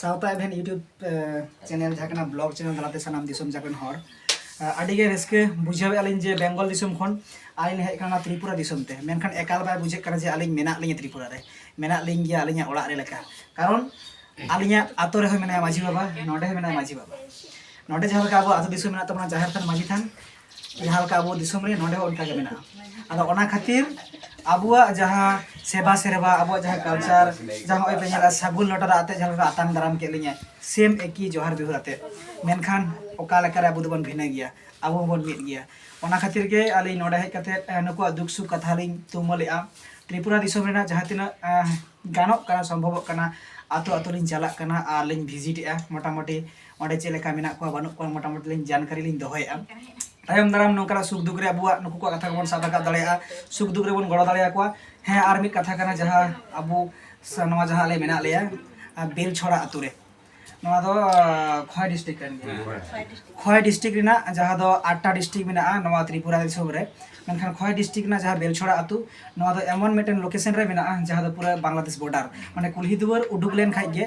ᱥᱟᱶᱛᱟ ᱮᱵᱷᱮᱱ ᱤᱭᱩᱴᱩᱵᱽ ᱪᱮᱱᱮᱞ ᱡᱟᱦᱟᱸ ᱠᱟᱱᱟ ᱵᱞᱚᱜ ᱪᱮᱱᱮᱞ ᱛᱟᱞᱟᱛᱮ ᱥᱟᱱᱟᱢ ᱫᱤᱥᱚᱢ ᱡᱟᱠ ᱨᱮᱱ ᱦᱚᱲ ᱟᱹᱰᱤ ᱜᱮ ᱨᱟᱹᱥᱠᱟᱹ ᱵᱩᱡᱷᱟᱹᱣᱮᱫᱼᱟ ᱞᱤᱧ ᱡᱮ ᱵᱮᱝᱜᱚᱞ ᱫᱤᱥᱚᱢ ᱠᱷᱚᱱ ᱟᱹᱞᱤᱧ ᱦᱮᱡ ᱠᱟᱱᱟ ᱛᱨᱤᱯᱩᱨᱟ ᱫᱤᱥᱚᱢ ᱛᱮ ᱢᱮᱱᱠᱷᱟᱱ ᱮᱠᱟᱞ ᱵᱟᱭ ᱵᱩᱡᱷᱟᱹᱜ ᱠᱟᱱᱟ ᱡᱮ ᱟᱹᱞᱤᱧ ᱢᱮᱱᱟᱜ ᱞᱤᱧᱟ ᱛᱨᱤᱯᱩᱨᱟ ᱨᱮ ᱢᱮᱱᱟᱜ ᱞᱤᱧ ᱜᱮᱭᱟ ᱟᱹᱞᱤᱧᱟᱜ ᱚᱲᱟᱜ ᱨᱮ ᱞᱮᱠᱟ ᱠᱟᱨᱚᱱ ᱟᱹᱞᱤᱧᱟᱜ ᱟᱛᱳ ᱨᱮᱦᱚᱸ ᱢᱮᱱᱟᱭᱟ ᱢᱟᱹᱡᱷᱤ ᱵᱟᱵᱟ ᱱᱚᱰᱮ ᱦᱚᱸ ᱢᱮᱱᱟᱭᱟ ᱢᱟᱹᱡᱷᱤ ᱵᱟᱵᱟ ᱱᱚᱰᱮ ᱡᱟᱦᱟᱸ ᱞᱮᱠᱟ ᱟᱵᱚ ᱟᱛᱳ ᱫᱤᱥᱚᱢ ᱢᱮᱱᱟᱜ ᱛᱟᱵᱚᱱᱟ ᱡᱟᱦᱮᱨ ᱛᱷᱟᱱ ᱢᱟᱹᱡᱷᱤ ᱛᱷᱟᱱ ᱡᱟᱦᱟᱸ ᱞᱮᱠᱟ ᱟᱵᱚ ᱫᱤᱥᱚᱢ ᱨᱮ ᱱᱚᱰᱮ ᱦᱚᱸ ᱚᱱᱠᱟ ᱜᱮ ᱢᱮᱱᱟᱜᱼᱟ ᱟᱫᱚ ᱚᱱᱟ ᱠᱷᱟᱹᱛᱤᱨ ᱟᱵᱚᱣᱟᱜ ᱡᱟᱦᱟᱸ ᱥᱮᱵᱟ ᱥᱮᱨᱵᱟ ᱟᱵᱚᱣᱟᱜ ᱡᱟᱦᱟᱸ ᱠᱟᱞᱪᱟᱨ ᱡᱟᱦᱟᱸ ᱱᱚᱜᱼᱚᱭ ᱯᱮ ᱧᱮᱞᱟ ᱥᱟᱹᱜᱩᱱ ᱞᱚᱴᱟ ᱫᱟᱜ ᱟᱛᱮ ᱡᱟᱦᱟᱸ ᱞᱮᱠᱟ ᱟᱛᱟᱝ ᱫᱟᱨᱟᱢ ᱠᱮᱫ ᱞᱤᱧᱟᱹ ᱥᱮᱢ ᱮᱠᱤ ᱡᱚᱦᱟᱨ ᱡᱚᱦᱟᱨ ᱟᱛᱮ ᱢᱮᱱᱠᱷᱟᱱ ᱚᱠᱟ ᱞᱮᱠᱟᱨᱮ ᱟᱵᱚ ᱫᱚᱵᱚᱱ ᱵᱷᱤᱱᱟᱹ ᱜᱮᱭᱟ ᱟᱵᱚ ᱦᱚᱸᱵᱚᱱ ᱢᱤᱫ ᱜᱮᱭᱟ ᱚᱱᱟ ᱠᱷᱟᱹᱛᱤᱨ ᱜᱮ ᱟᱹᱞᱤᱧ ᱱᱚᱰᱮ ᱦᱮᱡ ᱠᱟᱛᱮ ᱱᱩᱠᱩᱣᱟᱜ ᱫᱩᱠ ᱥᱩᱠ ᱠᱟᱛᱷᱟ ᱞᱤᱧ ᱛᱩᱢᱟᱹᱞᱮᱜᱼᱟ ᱛᱨᱤᱯᱩᱨᱟ ᱫᱤᱥᱚᱢ ᱨᱮᱱᱟᱜ ᱡᱟᱦᱟᱸ ᱛᱤᱱᱟᱹᱜ ᱜᱟᱱᱚᱜ ᱠᱟᱱᱟ ᱥᱚᱢᱵᱷᱚᱵᱚᱜ ᱠᱟᱱᱟ ᱟᱛᱳ ᱟᱛᱳ ᱞᱤᱧ ᱪᱟᱞᱟᱜ ᱠᱟᱱᱟ ᱟᱨ ᱞᱤᱧ ᱵᱷᱤᱡᱤᱴᱮᱜᱼᱟ ᱢᱚᱴᱟᱢᱩᱴᱤ ᱚᱸᱰᱮ ᱪᱮᱫ ᱞᱮᱠᱟ ᱢᱮᱱᱟᱜ ᱠᱚᱣᱟ ᱵᱟᱹᱱᱩᱜ ᱠᱚᱣᱟ ᱢᱚᱴᱟᱢᱩᱴᱤ ᱞᱤᱧ ᱡᱟᱱᱠᱟᱨᱤ ᱞᱤᱧ ᱫᱚᱦᱚᱭᱮᱫᱼᱟ ᱛᱟᱭᱚᱢ ᱫᱟᱨᱟᱢ ᱱᱚᱝᱠᱟᱱᱟᱜ ᱥᱩᱠ ᱫᱩᱠ ᱨᱮ ᱟᱵᱚᱣᱟᱜ ᱱᱩᱠᱩ ᱠᱚᱣᱟᱜ ᱠᱟᱛᱷᱟ ᱠᱚᱵᱚᱱ ᱥᱟᱵ ᱨᱟᱠᱟᱵ ᱫᱟᱲᱮᱭᱟᱜᱼᱟ ᱥᱩᱠ ᱫᱩᱠ ᱨᱮᱵᱚᱱ ᱜᱚᱲᱚ ᱫᱟᱲᱮᱭᱟᱠᱚᱣᱟ ᱦᱮᱸ ᱟᱨ ᱢᱤᱫ ᱠᱟᱛᱷᱟ ᱠᱟᱱᱟ ᱡᱟᱦᱟᱸ ᱟᱵᱚ ᱱᱚᱣᱟ ᱡᱟᱦᱟᱸ ᱟᱞᱮ ᱢᱮᱱᱟᱜ ᱞᱮᱭᱟ ᱵᱮᱞ ᱪᱷᱚᱲᱟ ᱟᱛᱳ ᱨᱮ ᱱᱚᱣᱟ ᱫᱚ ᱠᱷᱚᱭ ᱰᱤᱥᱴᱨᱤᱠ ᱠᱟᱱ ᱜᱮᱭᱟ ᱠᱷᱚᱭ ᱰᱤᱥᱴᱨᱤᱠ ᱨᱮᱱᱟᱜ ᱡᱟᱦᱟᱸ ᱫᱚ ᱟᱴᱴᱟ ᱰᱤᱥᱴᱨᱤᱠ ᱢᱮᱱᱟᱜᱼᱟ ᱱᱚᱣᱟ ᱛᱨᱤᱯᱩᱨᱟ ᱫᱤᱥᱚᱢ ᱨᱮ ᱢᱮᱱᱠᱷᱟᱱ ᱠᱷᱚᱭ ᱰᱤᱥᱴᱨᱤᱠ ᱨᱮᱱᱟᱜ ᱡᱟᱦᱟᱸ ᱵᱮᱞᱪᱷᱚᱲᱟ ᱟᱛᱳ ᱱᱚᱣᱟ ᱫᱚ ᱮᱢᱚᱱ ᱢᱤᱫᱴᱮᱱ ᱞᱳᱠᱮᱥᱚᱱ ᱨᱮ ᱢᱮᱱᱟᱜᱼᱟ ᱡᱟᱦᱟᱸ ᱫᱚ ᱯᱩᱨᱟᱹ ᱵᱟᱝᱞᱟᱫᱮᱥ ᱵᱚᱰᱟᱨ ᱢᱟᱱᱮ ᱠᱩᱞᱦᱤ ᱫᱩᱣᱟᱹᱨ ᱩᱰᱩᱠ ᱞᱮᱱ ᱠᱷᱟᱱ ᱜᱮ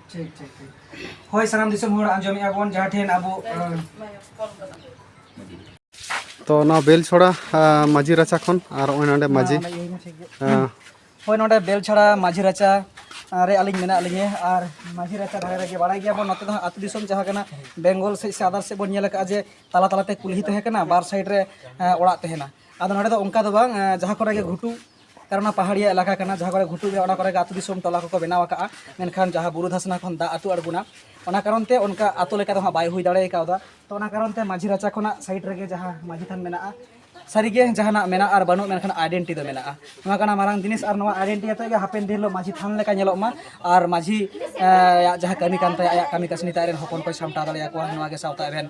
ᱴᱷᱤᱠ ᱴᱷᱤᱠ ᱴᱷᱤᱠ ᱦᱳᱭ ᱥᱟᱱᱟᱢ ᱫᱤᱥᱚᱢ ᱦᱚᱲ ᱟᱸᱡᱚᱢᱮᱫᱼᱟ ᱵᱚᱱ ᱡᱟᱦᱟᱸ ᱴᱷᱮᱱ ᱟᱵᱚ ᱛᱚ ᱚᱱᱟ ᱵᱮᱞᱪᱷᱚᱲᱟ ᱢᱟᱹᱡᱷᱤ ᱨᱟᱪᱟ ᱠᱷᱚᱱ ᱟᱨ ᱱᱚᱜᱼᱚᱭ ᱱᱚᱰᱮ ᱢᱟᱹᱡᱷᱤ ᱦᱳᱭ ᱱᱚᱰᱮ ᱵᱮᱞᱪᱷᱟᱲᱟ ᱢᱟᱹᱡᱷᱤ ᱨᱟᱪᱟ ᱨᱮ ᱟᱹᱞᱤᱧ ᱢᱮᱱᱟᱜ ᱞᱤᱧᱟᱹ ᱟᱨ ᱢᱟᱹᱡᱷᱤ ᱨᱟᱪᱟ ᱫᱷᱟᱨᱮ ᱨᱮᱜᱮ ᱵᱟᱲᱟᱭ ᱜᱮᱭᱟ ᱵᱚᱱ ᱱᱚᱛᱮ ᱫᱚ ᱦᱟᱸᱜ ᱟᱹᱛᱩ ᱫᱤᱥᱚᱢ ᱡᱟᱦᱟᱸ ᱠᱟᱱᱟ ᱵᱮᱝᱜᱚᱞ ᱥᱮᱫ ᱥᱮ ᱟᱫᱟᱨ ᱥᱮᱫ ᱵᱚᱱ ᱧᱮᱞ ᱟᱠᱟᱫᱼᱟ ᱡᱮ ᱛᱟᱞᱟ ᱛᱟᱞᱟᱛᱮ ᱠᱩᱞᱦᱤ ᱛᱟᱦᱮᱸ ᱠᱟᱱᱟ ᱵᱟᱨ ᱥᱟᱭᱤᱰ ᱨᱮ ᱚᱲᱟᱜ ᱛᱟᱦᱮᱱᱟ ᱟᱫᱚ ᱱᱚᱰᱮ ᱫᱚ ᱚᱱᱠᱟ ᱫᱚ ᱵᱟᱝ ᱡᱟᱦᱟᱸ ᱠᱚᱨᱮ ᱜᱮ ᱜᱷᱩᱴᱩ ᱠᱟᱨᱚᱱ ᱚᱱᱟ ᱯᱟᱦᱟᱲᱤᱭᱟ ᱮᱞᱟᱠᱟ ᱠᱟᱱᱟ ᱡᱟᱦᱟᱸ ᱠᱚᱨᱮ ᱜᱷᱩᱴᱩ ᱜᱮᱭᱟ ᱚᱱᱟ ᱠᱚᱨᱮ ᱟᱹᱛᱩ ᱫᱤᱥᱚᱢ ᱴᱚᱞᱟ ᱠᱚᱠᱚ ᱵᱮᱱᱟᱣ ᱟᱠᱟᱫᱼᱟ ᱢᱮᱱᱠᱷᱟᱱ ᱡᱟᱦᱟᱸ ᱵᱩᱨᱩ ᱫᱷᱟᱥᱱᱟ ᱠᱷᱚᱱ ᱫᱟᱜ ᱟᱹᱛᱩ ᱟᱬᱜᱚᱱᱟ ᱚᱱᱟ ᱠᱟᱨᱚᱱ ᱛᱮ ᱚᱱᱠᱟ ᱟᱹᱛᱩ ᱞᱮᱠᱟ ᱫᱚ ᱦᱟᱸᱜ ᱵᱟᱭ ᱦᱩᱭ ᱫᱟᱲᱮ ᱠᱟᱣᱫᱟ ᱛᱚ ᱚᱱᱟ ᱠᱟᱨᱚᱱ ᱛᱮ ᱢᱟᱹᱡᱷᱤ ᱨᱟᱪᱟ ᱠᱷᱚᱱᱟᱜ ᱥᱟᱭᱤᱰ ᱨᱮᱜᱮ ᱡᱟᱦᱟᱸ ᱢᱟᱹᱡᱷᱤ ᱛᱷᱟᱱ ᱢᱮᱱᱟᱜᱼᱟ ᱥᱟᱹᱨᱤᱜᱮ ᱡᱟᱦᱟᱱᱟᱜ ᱢᱮᱱᱟᱜᱼᱟ ᱟᱨ ᱵᱟᱹᱱᱩᱜ ᱢᱮᱱᱠᱷᱟᱱ ᱟᱭᱰᱮᱱᱴᱤ ᱫᱚ ᱢᱮᱱᱟᱜᱼᱟ ᱱᱚᱣᱟ ᱠᱟᱱᱟ ᱢᱟᱨᱟᱝ ᱡᱤᱱᱤᱥ ᱟᱨ ᱱᱚᱣᱟ ᱟᱭᱰᱮᱱᱴᱤ ᱟᱛᱮ ᱜᱮ ᱦᱟᱯᱮᱱ ᱫᱤᱱ ᱦᱤᱞᱳᱜ ᱢᱟᱹᱡᱷᱤ ᱛᱷᱟᱱ ᱞᱮᱠᱟ ᱧᱮᱞᱚᱜ ᱢᱟ ᱟᱨ ᱢᱟᱹᱡᱷᱤ ᱟᱭᱟᱜ ᱡᱟᱦᱟᱸ ᱠᱟᱹᱢᱤ ᱠᱟᱱ ᱛᱟᱭᱟ ᱟᱭᱟᱜ ᱠᱟᱹᱢᱤ ᱠᱟᱹᱥᱱᱤ ᱛᱟᱭ ᱟᱡ ᱨᱮᱱ ᱦᱚᱯᱚᱱ ᱠᱚᱭ ᱥᱟᱢᱴᱟᱣ ᱫᱟᱲᱮᱭᱟᱠᱚᱣᱟ ᱱᱚᱣᱟᱜᱮ ᱥᱟᱶᱛᱟ ᱮᱵᱷᱮᱱ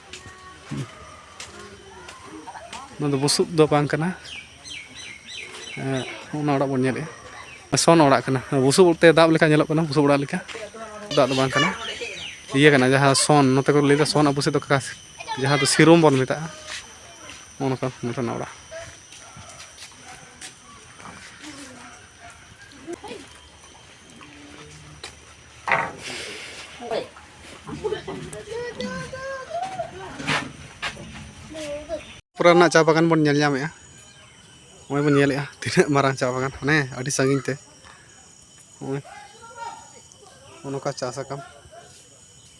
ᱱᱚᱣᱟ ᱫᱚ ᱵᱩᱥᱩᱵ ᱫᱚ ᱵᱟᱝ ᱠᱟᱱᱟ ᱚᱱᱟ ᱚᱲᱟᱜ ᱵᱚᱱ ᱧᱮᱞᱮᱜᱼᱟ ᱥᱚᱱ ᱚᱲᱟᱜ ᱠᱟᱱᱟ ᱵᱩᱥᱩᱵ ᱛᱮ ᱫᱟᱵ ᱞᱮᱠᱟ ᱧᱮᱞᱚᱜ ᱠᱟᱱᱟ ᱵᱩᱥᱩᱵ ᱚᱲᱟᱜ ᱞᱮᱠᱟ ᱫᱟᱜ ᱫᱚ ᱵᱟᱝ ᱠᱟᱱᱟ ᱤᱭᱟᱹ ᱠᱟᱱᱟ ᱡᱟᱦᱟᱸ ᱥᱚᱱ ᱱᱚᱛᱮ ᱠᱚ ᱞᱟᱹᱭᱫᱟ ᱥᱚᱱ ᱟᱵᱚ ᱥᱮᱫ ᱫᱚ ᱡᱟᱦᱟᱸ ᱫᱚ ᱥᱤᱨᱚᱢ ᱵᱚᱱ ᱢᱮᱛᱟᱜᱼᱟ ᱚᱱᱟ ᱠᱚ ᱱᱚᱛᱮᱱᱟᱜ ᱚᱲᱟᱜ ᱯᱩᱨᱟᱹ ᱨᱮᱱᱟᱜ ᱪᱟ ᱵᱟᱜᱟᱱ ᱵᱚᱱ ᱧᱮᱞ ᱧᱟᱢᱮᱜᱼᱟ ᱱᱚᱜᱼᱚᱭ ᱵᱚᱱ ᱧᱮᱞᱮᱜᱼᱟ ᱛᱤᱱᱟᱹᱜ ᱢᱟᱨᱟᱝ ᱪᱟ ᱵᱟᱜᱟᱱ ᱦᱟᱱᱮ ᱟᱹᱰᱤ ᱥᱟᱺᱜᱤᱧ ᱛᱮ ᱱᱚᱜᱼᱚᱭ ᱱᱚᱝᱠᱟ ᱪᱟᱥ ᱟᱠᱟᱱ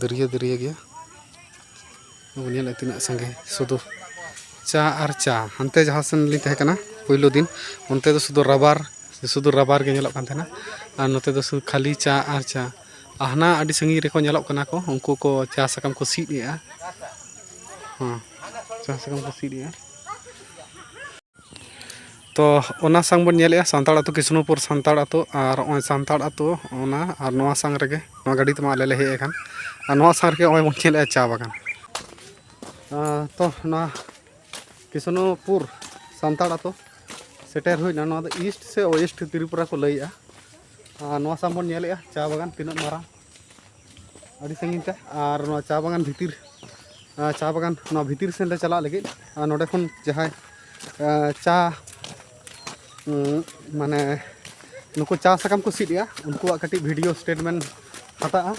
ᱫᱟᱹᱨᱭᱟᱹ ᱫᱟᱹᱨᱭᱟᱹ ᱜᱮᱭᱟ ᱵᱚᱱ ᱧᱮᱞᱮᱫ ᱛᱤᱱᱟᱹᱜ ᱥᱟᱸᱜᱮ ᱥᱩᱫᱩ ᱪᱟ ᱟᱨ ᱪᱟ ᱦᱟᱱᱛᱮ ᱡᱟᱦᱟᱸ ᱥᱮᱱ ᱞᱤᱧ ᱛᱟᱦᱮᱸ ᱠᱟᱱᱟ ᱯᱳᱭᱞᱳ ᱫᱤᱱ ᱚᱱᱛᱮ ᱫᱚ ᱥᱩᱫᱩ ᱨᱟᱵᱟᱨ ᱥᱩᱫᱩ ᱨᱟᱵᱟᱨ ᱜᱮ ᱧᱮᱞᱚᱜ ᱠᱟᱱ ᱛᱟᱦᱮᱱᱟ ᱟᱨ ᱱᱚᱛᱮ ᱫᱚ ᱥᱩᱫᱩ ᱠᱷᱟᱹᱞᱤ ᱪᱟ ᱟᱨ ᱪᱟ ᱟᱨ ᱦᱟᱱᱟ ᱟᱹᱰᱤ ᱥᱟᱺᱜᱤᱧ ᱨᱮᱠᱚ ᱧᱮᱞᱚᱜ ᱠᱟᱱᱟ ᱠᱚ ᱩᱱᱠᱩ ᱠᱚ ᱪᱟ ᱥᱟᱠᱟᱢ ᱠᱚ ᱥᱤᱫ ᱮᱜᱼᱟ ᱦᱮᱸ ᱪᱟ ᱥᱟᱠᱟᱢ ᱠᱚ ᱥᱤᱫ ᱮᱜᱼᱟ ᱛᱚ ᱚᱱᱟ ᱥᱟᱝ ᱵᱚᱱ ᱧᱮᱞᱮᱜᱼᱟ ᱥᱟᱱᱛᱟᱲ ᱟᱹᱛᱩ ᱠᱤᱥᱱᱚᱯᱩᱨ ᱥᱟᱱᱛᱟᱲ ᱟᱹᱛᱩ ᱟᱨ ᱱᱚᱜᱼᱚᱭ ᱥᱟᱱᱛᱟᱲ ᱟᱹᱛᱩ ᱚᱱᱟ ᱟᱨ ᱱᱚᱣᱟ ᱥᱟᱝ ᱨᱮᱜᱮ ᱱᱚᱣᱟ ᱜᱟᱹᱰᱤ ᱛᱮᱢᱟ ᱟᱞᱮ ᱞᱮ ᱦᱮᱡ ᱟᱠᱟᱱ ᱟᱨ ᱱᱚᱣᱟ ᱥᱟᱝ ᱨᱮᱜᱮ ᱱᱚᱜᱼᱚᱭ ᱵᱚᱱ ᱧᱮᱞᱮᱜᱼᱟ ᱪᱟ ᱵᱟᱜᱟᱱ ᱛᱚ ᱱᱚᱣᱟ ᱠᱤᱥᱱᱚᱯᱩᱨ ᱥᱟᱱᱛᱟᱲ ᱟᱹᱛᱩ ᱥᱮᱴᱮᱨ ᱦᱩᱭᱱᱟ ᱱᱚᱣᱟ ᱫᱚ ᱤᱥᱴ ᱥᱮ ᱳᱭᱮᱥᱴ ᱛᱨᱤᱯᱩᱨᱟ ᱠᱚ ᱞᱟᱹᱭᱮᱜᱼᱟ ᱟᱨ ᱱᱚᱣᱟ ᱥᱟᱝ ᱵᱚᱱ ᱧᱮᱞᱮᱜᱼᱟ ᱪᱟ ᱵᱟᱜᱟᱱ ᱛᱤᱱᱟᱹᱜ ᱢᱟᱨᱟᱝ ᱟᱹᱰᱤ ᱥᱟᱺᱜᱤᱧ ᱛᱮ ᱟᱨ ᱱᱚᱣᱟ ᱪᱟ ᱵᱟᱜᱟᱱ ᱵᱷᱤᱛᱤᱨ ᱪᱟ ᱵᱟᱜᱟᱱ ᱱᱚᱣᱟ ᱵᱷᱤᱛᱤᱨ ᱥᱮᱱ ᱞᱮ ᱪᱟᱞᱟᱜ ᱞᱟᱹᱜᱤᱫ ᱟᱨ ᱱᱚᱰᱮ ᱠᱷᱚᱱ ᱡᱟᱦᱟᱸᱭ ᱪᱟ ᱢᱟᱱᱮ ᱱᱩᱠᱩ ᱪᱟ ᱥᱟᱠᱟᱢ ᱠᱚ ᱥᱤᱫ ᱮᱜᱼᱟ ᱩᱱᱠᱩᱣᱟᱜ ᱠᱟᱹᱴᱤᱡ ᱵᱷᱤᱰᱤᱭᱳ ᱥᱴᱮᱴᱢᱮᱱᱴ ᱦᱟᱛᱟᱜᱼᱟ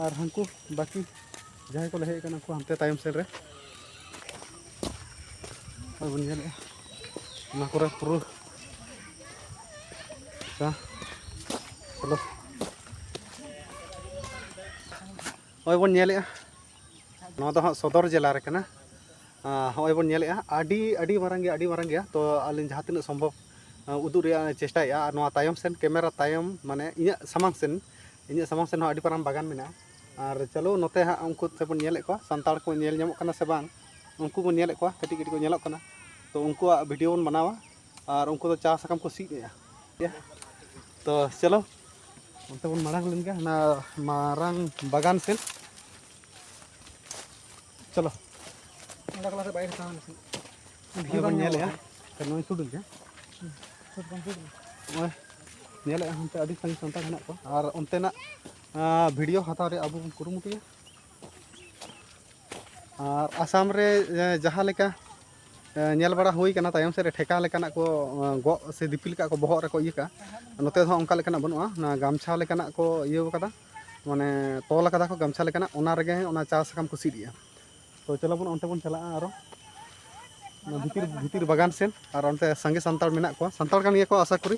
ᱟᱨ ᱦᱟᱹᱱᱠᱩ ᱵᱟᱹᱠᱤ ᱡᱟᱦᱟᱸᱭ ᱠᱚ ᱞᱮ ᱦᱮᱡ ᱟᱠᱟᱱᱟ ᱩᱱᱠᱩ ᱦᱟᱱᱛᱮ ᱛᱟᱭᱚᱢ ᱥᱮᱫ ᱨᱮ ᱟᱨ ᱵᱚᱱ ᱧᱮᱞᱮᱜᱼᱟ ᱚᱱᱟ ᱠᱚᱨᱮ ᱯᱩᱨᱟᱹ ᱟᱪᱪᱷᱟ ᱪᱚᱞᱚ ᱱᱚᱜᱼᱚᱭ ᱵᱚᱱ ᱧᱮᱞᱮᱜᱼᱟ ᱱᱚᱣᱟ ᱫᱚ ᱦᱟᱸᱜ ᱥᱚᱫᱚᱨ ᱡᱮᱞᱟ ᱨᱮ ᱠᱟᱱᱟ ᱱᱚᱜᱼᱚᱭ ᱵᱚᱱ ᱧᱮᱞᱮᱜᱼᱟ ᱟᱹᱰᱤ ᱟᱹᱰᱤ ᱢᱟᱨᱟᱝ ᱜᱮᱭᱟ ᱟᱹᱰᱤ ᱢᱟᱨᱟᱝ ᱜᱮᱭᱟ ᱛᱚ ᱟᱹᱞᱤᱧ ᱡᱟᱦᱟᱸ ᱛᱤᱱᱟᱹᱜ ᱥᱚᱢᱵᱷᱚᱵ ᱩᱫᱩᱜ ᱨᱮᱭᱟᱜ ᱪᱮᱥᱴᱟᱭᱮᱜᱼᱟ ᱟᱨ ᱱᱚᱣᱟ ᱛᱟᱭᱚᱢ ᱥᱮᱱ ᱠᱮᱢᱮᱨᱟ ᱛᱟᱭᱚᱢ ᱢᱟᱱᱮ ᱤᱧᱟᱹᱜ ᱥᱟᱢᱟᱝ ᱥᱮᱱ ᱤᱧᱟᱹᱜ ᱥᱟᱢᱟᱝ ᱥᱮᱱ ᱦᱚᱸ ᱟᱹᱰᱤ ᱢᱟᱨᱟᱝ ᱵᱟᱜᱟᱱ ᱢᱮᱱᱟᱜᱼᱟ ᱟᱨ ᱪᱟᱞᱳ ᱱᱚᱛᱮ ᱦᱟᱸᱜ ᱩᱱᱠᱩ ᱛᱮᱵᱚᱱ ᱧᱮᱞᱮᱫ ᱠᱚᱣᱟ ᱥᱟᱱᱛᱟᱲ ᱠᱚ ᱧᱮᱞ ᱧᱟᱢᱚᱜ ᱠᱟᱱᱟ ᱥᱮ ᱵᱟᱝ ᱩᱱᱠᱩ ᱵᱚᱱ ᱧᱮᱞᱮᱫ ᱠᱚᱣᱟ ᱠᱟᱹᱴᱤᱡ ᱠᱟᱹᱴᱤᱡ ᱠᱚ ᱧᱮᱞᱚᱜ ᱠᱟᱱᱟ ᱛᱚ ᱩᱱᱠᱩᱣᱟᱜ ᱵᱷᱤᱰᱤᱭᱳ ᱵᱚᱱ ᱵᱮᱱᱟᱣᱟ ᱟᱨ ᱩᱱᱠᱩ ᱫᱚ ᱪᱟ ᱥᱟᱠᱟᱢ ᱠᱚ ᱥᱤᱫ ᱮᱫᱟ ᱛᱚ ᱪᱟᱞᱳ ᱚᱱᱛᱮ ᱵᱚᱱ ᱢᱟᱲᱟᱝ ᱞᱮᱱ ᱜᱮ ᱚᱱᱟ ᱢᱟᱨᱟᱝ ᱵᱟᱜᱟᱱ ᱥᱮᱫ ᱪᱟᱞᱳ ᱚᱸᱰᱮ ᱠᱚᱞᱟ ᱥᱮᱫ ᱵᱟᱭ ᱦᱟᱛᱟᱣ ᱞᱮᱠᱷᱟᱱ ᱵᱷᱤᱰᱤᱭᱳ ᱵᱚᱱ ᱧᱮᱞᱮᱫᱼᱟ ᱛᱚ ᱱᱚᱜᱼᱚᱭ ᱥᱩᱰᱩ ᱜᱮ ᱱᱚᱜᱼᱚᱭ ᱧᱮᱞᱮᱫᱼᱟ ᱚᱱᱛᱮ ᱟᱹᱰᱤ ᱥᱟᱺᱜᱤᱧ ᱥᱟᱱᱛᱟᱲ ᱦᱮᱱᱟᱜ ᱠᱚᱣᱟ ᱟᱨ ᱚᱱᱛᱮᱱᱟᱜ ᱵᱷᱤᱰᱤᱭᱳ ᱦᱟᱛᱟᱣ ᱨᱮ ᱟᱵᱚ ᱵᱚᱱ ᱠᱩᱨᱩᱢᱩᱴᱩᱭᱟ ᱟᱨ ᱟᱥᱟᱢ ᱨᱮ ᱡᱟᱦᱟᱸ ᱞᱮᱠᱟ ᱧᱮᱞ ᱵᱟᱲᱟ ᱦᱩᱭ ᱠᱟᱱᱟ ᱛᱟᱭᱚᱢ ᱥᱮᱫ ᱨᱮ ᱴᱷᱮᱠᱟ ᱞᱮᱠᱟᱱᱟᱜ ᱠᱚ ᱜᱚᱜ ᱥᱮ ᱫᱤᱯᱤᱞ ᱠᱟᱜ ᱠᱚ ᱵᱚᱦᱚᱜ ᱨᱮᱠᱚ ᱤᱭᱟᱹ ᱠᱟᱜᱼᱟ ᱱᱚᱛᱮ ᱫᱚ ᱚᱱᱠᱟ ᱞᱮᱠᱟᱱᱟᱜ ᱵᱟᱹᱱᱩᱜᱼᱟ ᱚᱱᱟ ᱜᱟᱢᱪᱷᱟ ᱞᱮᱠᱟᱱᱟᱜ ᱠᱚ ᱤᱭᱟᱹ ᱠᱟᱫᱟ ᱢᱟᱱᱮ ᱛᱚᱞ ᱠᱟᱫᱟ ᱠᱚ ᱜᱟᱢᱪᱷᱟ ᱞᱮᱠᱟᱱᱟᱜ ᱚᱱᱟ ᱨᱮᱜᱮ ᱚᱱᱟ ᱪᱟ ᱥᱟᱠᱟᱢ ᱠᱚ ᱥᱤᱫ ᱮᱜᱼᱟ ᱛᱚ ᱪᱚᱞᱚ ᱵᱚᱱ ᱚᱱᱛᱮ ᱵᱚᱱ ᱪᱟᱞᱟᱜᱼᱟ ᱟᱨᱚ ᱵᱷᱤᱛᱤᱨ ᱵᱷᱤᱛᱤᱨ ᱵᱟᱜᱟᱱ ᱥᱮᱫ ᱟᱨ ᱚᱱᱛᱮ ᱥᱟᱸᱜᱮ ᱥᱟᱱᱛᱟᱲ ᱢᱮᱱᱟᱜ ᱠᱚᱣᱟ ᱥᱟᱱᱛᱟᱲ ᱠᱟᱱ ᱜᱮᱭᱟ ᱠᱚ ᱟᱥᱟ ᱠᱚᱨᱤ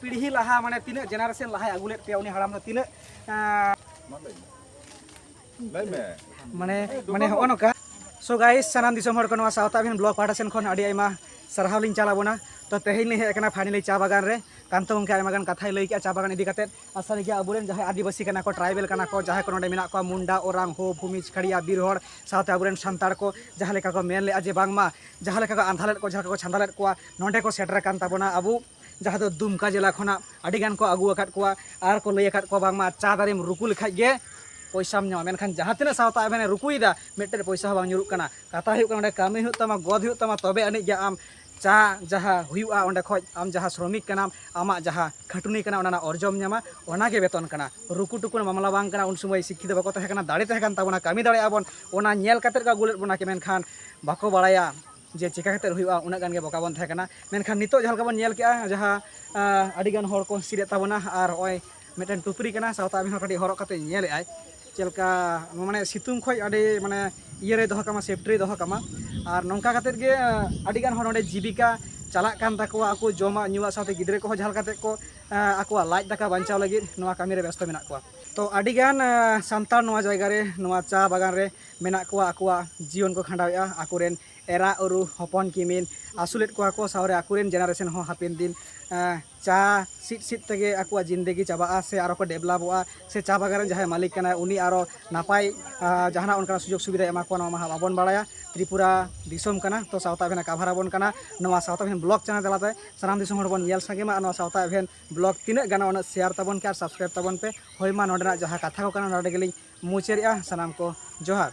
ᱯᱤᱲᱦᱤ ᱞᱟᱦᱟ ᱢᱟᱱᱮ ᱛᱤᱱᱟᱹᱜ ᱡᱮᱱᱟᱨᱮᱥᱚᱱ ᱞᱟᱦᱟᱭ ᱟᱹᱜᱩ ᱞᱮᱫ ᱯᱮᱭᱟ ᱩᱱᱤ ᱦᱟᱲᱟᱢ ᱫᱚ ᱛᱤᱱᱟᱹᱜ ᱢᱟᱱᱮ ᱢᱟᱱᱮ ᱦᱚᱜᱼᱚ ᱱᱚᱝᱠᱟ ᱥᱚ ᱜᱟᱭᱤᱥ ᱥᱟᱱᱟᱢ ᱫᱤᱥᱚᱢ ᱦᱚᱲ ᱠᱚ ᱱᱚᱣᱟ ᱥᱟᱶᱛᱟ ᱟᱵᱤᱱ ᱵᱞᱚᱜ ᱯᱟᱦᱴᱟ ᱥᱮᱱ ᱠᱷᱚᱱ ᱟᱹᱰᱤ ᱟᱭᱢᱟ ᱥᱟᱨᱦᱟᱣ ᱞᱤᱧ ᱪᱟᱞ ᱟᱵᱚᱱᱟ ᱛᱚ ᱛᱮᱦᱮᱧ ᱞᱤᱧ ᱦᱮᱡ ᱟᱠᱟᱱᱟ ᱯᱷᱟᱭᱱᱟᱞᱤ ᱪᱟ ᱵᱟᱜᱟᱱ ᱨᱮ ᱠᱟᱱᱛᱚ ᱜᱚᱢᱠᱮ ᱟᱭᱢᱟ ᱜᱟᱱ ᱠᱟᱛᱷᱟᱭ ᱞᱟᱹᱭ ᱠᱮᱜᱼᱟ ᱪᱟ ᱵᱟᱜᱟᱱ ᱤᱫᱤ ᱠᱟᱛᱮ ᱟᱨ ᱥᱟᱹᱨᱤ ᱜᱮ ᱟᱵᱚᱨᱮᱱ ᱡᱟᱦᱟᱸᱭ ᱟᱹᱫᱤᱵᱟᱹᱥᱤ ᱠᱟᱱᱟ ᱠᱚ ᱴᱨᱟᱭᱵᱮᱞ ᱠᱟᱱᱟ ᱠᱚ ᱡᱟᱦᱟᱸᱭ ᱠᱚ ᱱᱚᱰᱮ ᱢᱮᱱᱟᱜ ᱠᱚᱣᱟ ᱢᱩᱱᱰᱟ ᱳᱨᱟᱝ ᱦᱳ ᱵᱷᱩᱢᱤᱡ ᱠᱷᱟᱲᱤᱭᱟ ᱵᱤᱨ ᱦᱚᱲ ᱥᱟᱶᱛᱮ ᱟᱵᱚᱨᱮᱱ ᱥᱟᱱᱛᱟᱲ ᱠᱚ ᱡᱟᱦᱟᱸ ᱞᱮᱠᱟ ᱠᱚ ᱢᱮᱱ ᱞᱮᱜᱼᱟ ᱡᱮ ᱵᱟᱝᱢᱟ ᱡᱟᱦᱟᱸ ᱞᱮᱠᱟ ᱠᱚ ᱟᱸᱫᱷᱟ ᱞᱮᱫ ᱠᱚ ᱡᱟᱦᱟᱸ ᱞᱮᱠᱟ ᱠᱚ ᱪᱷᱟᱸᱫᱟ ᱞᱮᱫ ᱠᱚᱣᱟ ᱱᱚᱰᱮ ᱠᱚ ᱥᱮᱴᱮᱨ ᱟᱠᱟᱱ ᱛᱟᱵᱚᱱᱟ ᱟᱵᱚ ᱡᱟᱦᱟᱸ ᱫᱚ ᱫᱩᱢᱠᱟ ᱡᱮᱞᱟ ᱠᱷᱚᱱᱟᱜ ᱟᱹᱰᱤ ᱜᱟᱱ ᱠᱚ ᱟᱹᱜᱩ ᱟᱠᱟᱫ ᱠᱚᱣᱟ ᱟᱨ ᱠᱚ ᱞᱟᱹᱭ ᱟᱠᱟᱫ ᱠᱚᱣᱟ ᱵᱟᱝᱢᱟ ᱪᱟ ᱫᱟᱨᱮᱢ ᱨᱩᱠᱩ ᱞᱮᱠᱷᱟᱡ ᱜᱮ ᱯᱚᱭᱥᱟᱢ ᱧᱟᱢᱟ ᱢᱮᱱᱠᱷᱟᱱ ᱡᱟᱦᱟᱸ ᱛᱤᱱᱟᱹᱜ ᱥᱟᱶᱛᱟ ᱟᱵᱮᱱᱮ ᱨᱩᱠᱩᱭᱮᱫᱟ ᱢᱤᱫᱴᱮᱱ ᱯᱚᱭᱥᱟ ᱦᱚᱸ ᱵᱟᱝ ᱧᱩᱨᱩᱜ ᱠᱟᱱᱟ ᱠᱟᱛᱷᱟ ᱦᱩᱭᱩᱜ ᱠᱟᱱᱟ ᱚᱸᱰᱮ ᱠᱟᱹᱢᱤ ᱦᱩᱭᱩᱜ ᱛᱟᱢᱟ ᱜᱚᱫ ᱦᱩᱭᱩᱜ ᱛᱟᱢᱟ ᱛᱚᱵᱮ ᱟᱹᱱᱤᱡ ᱜᱮ ᱟᱢ ᱪᱟ ᱡᱟᱦᱟᱸ ᱦᱩᱭᱩᱜᱼᱟ ᱚᱸᱰᱮ ᱠᱷᱚᱡ ᱟᱢ ᱡᱟᱦᱟᱸ ᱥᱨᱚᱢᱤᱠ ᱠᱟᱱᱟᱢ ᱟᱢᱟᱜ ᱡᱟᱦᱟᱸ ᱠᱷᱟᱹᱴᱩᱱᱤ ᱠᱟᱱᱟ ᱚᱱᱟ ᱨᱮᱱᱟᱜ ᱚᱨᱡᱚᱢ ᱧᱟᱢᱟ ᱚᱱᱟᱜᱮ ᱵᱮᱛᱚᱱ ᱠᱟᱱᱟ ᱨᱩᱠᱩ ᱴᱩᱠᱩ ᱢᱟᱢᱞᱟ ᱵᱟᱝ ᱠᱟᱱᱟ ᱩᱱ ᱥᱚᱢᱚᱭ ᱥᱤᱠᱠᱷᱤᱛ ᱵᱟᱠᱚ ᱛᱟᱦᱮᱸ ᱠᱟᱱᱟ ᱫᱟᱲᱮ ᱛᱟᱦᱮᱸ ᱠᱟᱱ ᱛᱟᱵᱚᱱᱟ ᱠᱟᱹᱢᱤ ᱫᱟᱲᱮᱭᱟᱜᱼᱟ ᱵᱚᱱ ᱚᱱᱟ ᱧᱮᱞ ᱠᱟᱛᱮ ᱠᱚ ᱟᱹᱜᱩ ᱞᱮᱫ ᱵᱚᱱᱟ ᱢᱮᱱᱠᱷᱟᱱ ᱵᱟᱠᱚ ᱵᱟᱲᱟᱭᱟ ᱡᱮ ᱪᱮᱠᱟ ᱠᱟᱛᱮ ᱦᱩᱭᱩᱜᱼᱟ ᱩᱱᱟᱹᱜ ᱜᱟᱱ ᱜᱮ ᱵᱚᱠᱟ ᱵᱚᱱ ᱛᱟᱦᱮᱸ ᱠᱟᱱᱟ ᱢᱮᱱᱠᱷᱟᱱ ᱱᱤᱛᱚᱜ ᱡᱟᱦᱟᱸ ᱞᱮᱠᱟ ᱵᱚᱱ ᱧᱮᱞ ᱠᱮᱜᱼᱟ ᱡᱟᱦᱟᱸ ᱟᱹᱰᱤ ᱜᱟᱱ ᱦᱚᱲ ᱠᱚ ᱦᱤᱥᱤᱫᱮᱫ ᱛᱟᱵᱚᱱᱟ ᱟᱨ ᱱᱚᱜᱼᱚᱭ ᱢᱤᱫᱴᱮᱱ ᱴᱩᱯᱨᱤ ᱠᱟᱱᱟ ᱥᱟᱶᱛᱟ ᱟᱹᱵᱤᱱ ᱦᱚᱸ ᱠᱟᱹᱴᱤᱡ ᱦᱚᱨᱚᱜ ᱠᱟᱛᱮ ᱧᱮᱞᱮᱫ ᱟᱭ ᱪᱮᱫ ᱞᱮᱠᱟ ᱢᱟᱱᱮ ᱥᱤᱛᱩᱝ ᱠᱷᱚᱡ ᱟᱹᱰᱤ ᱢᱟᱱᱮ ᱤᱭᱟᱹ ᱨᱮ ᱫᱚᱦᱚ ᱠᱟᱢᱟ ᱥᱮᱯᱴᱤ ᱨᱮ ᱫᱚᱦᱚ ᱠᱟᱢᱟ ᱟᱨ ᱱᱚᱝᱠᱟ ᱠᱟᱛᱮ ᱜᱮ ᱟᱹᱰᱤ ᱜᱟᱱ ᱦᱚᱲ ᱱᱚᱰᱮ ᱡᱤᱵᱤᱠᱟ ᱪᱟᱞᱟᱜ ᱠᱟᱱ ᱛᱟᱠᱚᱣᱟ ᱟᱠᱚ ᱡᱚᱢᱟᱜ ᱧᱩᱣᱟᱜ ᱥᱟᱶᱛᱮ ᱜᱤᱫᱽᱨᱟᱹ ᱠᱚᱦᱚᱸ ᱡᱟᱦᱟᱸ ᱞᱮᱠᱟᱛᱮ ᱠᱚ ᱟᱠᱚᱣᱟᱜ ᱞᱟᱡ ᱫᱟᱠᱟ ᱵᱟᱧᱪᱟᱣ ᱞᱟᱹᱜᱤᱫ ᱱᱚᱣᱟ ᱠᱟᱹᱢᱤ ᱨᱮ ᱵᱮᱥᱛᱚ ᱢᱮᱱᱟᱜ ᱠᱚᱣᱟ ᱛᱚ ᱟᱹᱰᱤ ᱜᱟᱱ ᱥᱟᱱᱛᱟᱲ ᱱᱚᱣᱟ ᱡᱟᱭᱜᱟ ᱨᱮ ᱱᱚᱣᱟ ᱪᱟ ᱵᱟᱜᱟᱱ ᱨᱮ ᱢᱮᱱᱟᱜ ᱠᱚᱣᱟ ᱟᱠᱚᱣᱟᱜ ᱡᱤᱭᱚᱱ ᱠᱚ ᱠᱷᱟᱸᱰᱟᱣᱮᱫᱼᱟ ᱟᱠᱚᱨᱮᱱ ᱮᱨᱟ ᱩᱨᱩ ᱦᱚᱯᱚᱱ ᱠᱤᱢᱤᱱ ᱟᱹᱥᱩᱞᱮᱫ ᱠᱚᱣᱟ ᱠᱚ ᱥᱟᱶᱨᱮ ᱟᱠᱚᱨᱮᱱ ᱡᱮᱱᱟᱨᱮᱥᱚᱱ ᱦᱚᱸ ᱦᱟᱯᱮᱱ ᱫᱤᱱ ᱪᱟ ᱥᱤᱫ ᱥᱤᱫ ᱛᱮᱜᱮ ᱟᱠᱚᱣᱟᱜ ᱡᱤᱱᱫᱮᱜᱤ ᱪᱟᱵᱟᱜᱼᱟ ᱥᱮ ᱟᱨᱚ ᱠᱚ ᱰᱮᱵᱷᱞᱚᱯᱚᱜᱼᱟ ᱥᱮ ᱪᱟ ᱵᱟᱜᱟᱱ ᱨᱮᱱ ᱡᱟᱦᱟᱸᱭ ᱢᱟᱹᱞᱤᱠ ᱠᱟᱱᱟᱭ ᱩᱱᱤ ᱟᱨᱚ ᱱᱟᱯᱟᱭ ᱡᱟᱦᱟᱱᱟᱜ ᱚᱱᱠᱟᱱᱟᱜ ᱥᱩᱡᱳᱜᱽ ᱥᱩᱵᱤᱫᱷᱟᱭ ᱮᱢᱟ ᱠᱚᱣᱟ ᱱᱚᱣᱟ ᱢᱟ ᱦᱟᱸᱜ ᱵᱟᱵᱚᱱ ᱵᱟᱲᱟᱭᱟ ᱛᱨᱤᱯᱩᱨᱟ ᱫᱤᱥᱚᱢ ᱠᱟᱱᱟ ᱛᱚ ᱥᱟᱶᱛᱟ ᱮᱵᱷᱮᱱᱮ ᱠᱟᱵᱷᱟᱨ ᱟᱵᱚᱱ ᱠᱟᱱᱟ ᱱᱚᱣᱟ ᱥᱟᱶᱛᱟ ᱮᱵᱷᱮᱱ ᱵᱞᱚᱜᱽ ᱪᱮᱱᱮᱞ ᱛᱟᱞᱟᱛᱮ ᱥᱟᱱᱟᱢ ᱫᱤᱥᱚᱢ ᱦᱚᱲ ᱵᱚᱱ ᱧᱮᱞ ᱥᱟᱸᱜᱮ ᱢᱟ ᱟᱨ ᱱᱚᱣᱟ ᱥᱟᱶᱛᱟ ᱮᱵᱷᱮᱱ ᱵᱞᱚᱜᱽ ᱛᱤᱱᱟᱹᱜ ᱜᱟᱱᱚᱜᱼᱟ ᱩᱱᱟᱹᱜ ᱥᱮᱭᱟᱨ ᱛᱟᱵᱚᱱ ᱯᱮ ᱟᱨ ᱥᱟᱵᱥᱠᱨᱟᱭᱤᱵᱽ ᱛᱟᱵᱚᱱ ᱯᱮ ᱦᱳᱭ ᱢᱟ ᱱᱚᱰᱮᱱᱟᱜ ᱡᱟᱦᱟᱸ ᱠᱟᱛᱷᱟ ᱠᱚ ᱠᱟᱱᱟ ᱱᱚᱰᱮ ᱜᱮᱞᱤᱧ ᱢᱩᱪᱟᱹᱨᱮᱜᱼᱟ ᱥᱟᱱᱟᱢ ᱠᱚ ᱡᱚᱦᱟᱨ᱾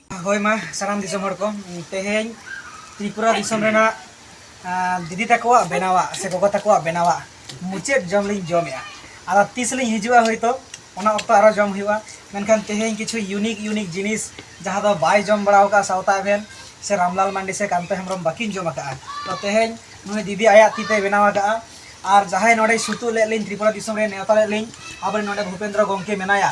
ᱦᱳᱭ ᱢᱟ ᱥᱟᱱᱟᱢ ᱫᱤᱥᱚᱢ ᱦᱚᱲ ᱠᱚ ᱛᱮᱦᱮᱧ ᱛᱨᱤᱯᱩᱨᱟ ᱫᱤᱥᱚᱢ ᱨᱮᱱᱟᱜ ᱫᱤᱫᱤ ᱛᱟᱠᱚᱣᱟᱜ ᱵᱮᱱᱟᱣᱟᱜ ᱥᱮ ᱜᱚᱜᱚ ᱛᱟᱠᱚᱣᱟᱜ ᱵᱮᱱᱟᱣᱟᱜ ᱢᱩᱪᱟᱹᱫ ᱡᱚᱢ ᱞᱤᱧ ᱡᱚᱢᱮᱜᱼᱟ ᱟᱫᱚ ᱛᱤᱥ ᱞᱤᱧ ᱦᱤᱡᱩᱜᱼᱟ ᱦᱳᱭᱛᱳ ᱚᱱᱟ ᱚᱠᱛᱚ ᱟᱨᱚ ᱡᱚᱢ ᱦᱩᱭᱩᱜᱼᱟ ᱢᱮᱱᱠᱷᱟᱱ ᱛᱮᱦᱮᱧ ᱠᱤᱪᱷᱩ ᱤᱭᱩᱱᱤᱠ ᱤᱭᱩᱱᱤᱠ ᱡᱤᱱᱤᱥ ᱡᱟᱦᱟᱸ ᱫᱚ ᱵᱟᱭ ᱡᱚᱢ ᱵᱟᱲᱟᱣ ᱠᱟᱜᱼᱟ ᱥᱟᱶᱛᱟ ᱮᱵᱷᱮᱱ ᱥᱮ ᱨᱟᱢᱞᱟᱞ ᱢᱟᱱᱰᱤ ᱥᱮ ᱠᱟᱱᱛᱚ ᱦᱮᱢᱵᱨᱚᱢ ᱵᱟᱹᱠᱤᱱ ᱡᱚᱢ ᱟᱠᱟᱜᱼᱟ ᱛᱚ ᱛᱮᱦᱮᱧ ᱱᱩᱭ ᱫᱤᱫᱤ ᱟᱭᱟᱜ ᱛᱤᱛᱮ ᱵᱮᱱᱟᱣ ᱟᱠᱟᱜᱼᱟ ᱟᱨ ᱡᱟᱦᱟᱸᱭ ᱱᱚᱰᱮ ᱥᱩᱛᱩᱜ ᱞᱮᱫ ᱞᱤᱧ ᱛᱨᱤᱯᱩᱨᱟ ᱫᱤᱥᱚᱢ ᱨᱮ ᱱᱮᱣᱛᱟ ᱞᱮᱫ ᱞᱤᱧ ᱟᱵᱚᱨᱮᱱ ᱱᱚᱰᱮ ᱵᱷᱩᱯᱮᱱᱫᱨᱚ ᱜᱚᱢᱠᱮ ᱢᱮᱱᱟᱭᱟ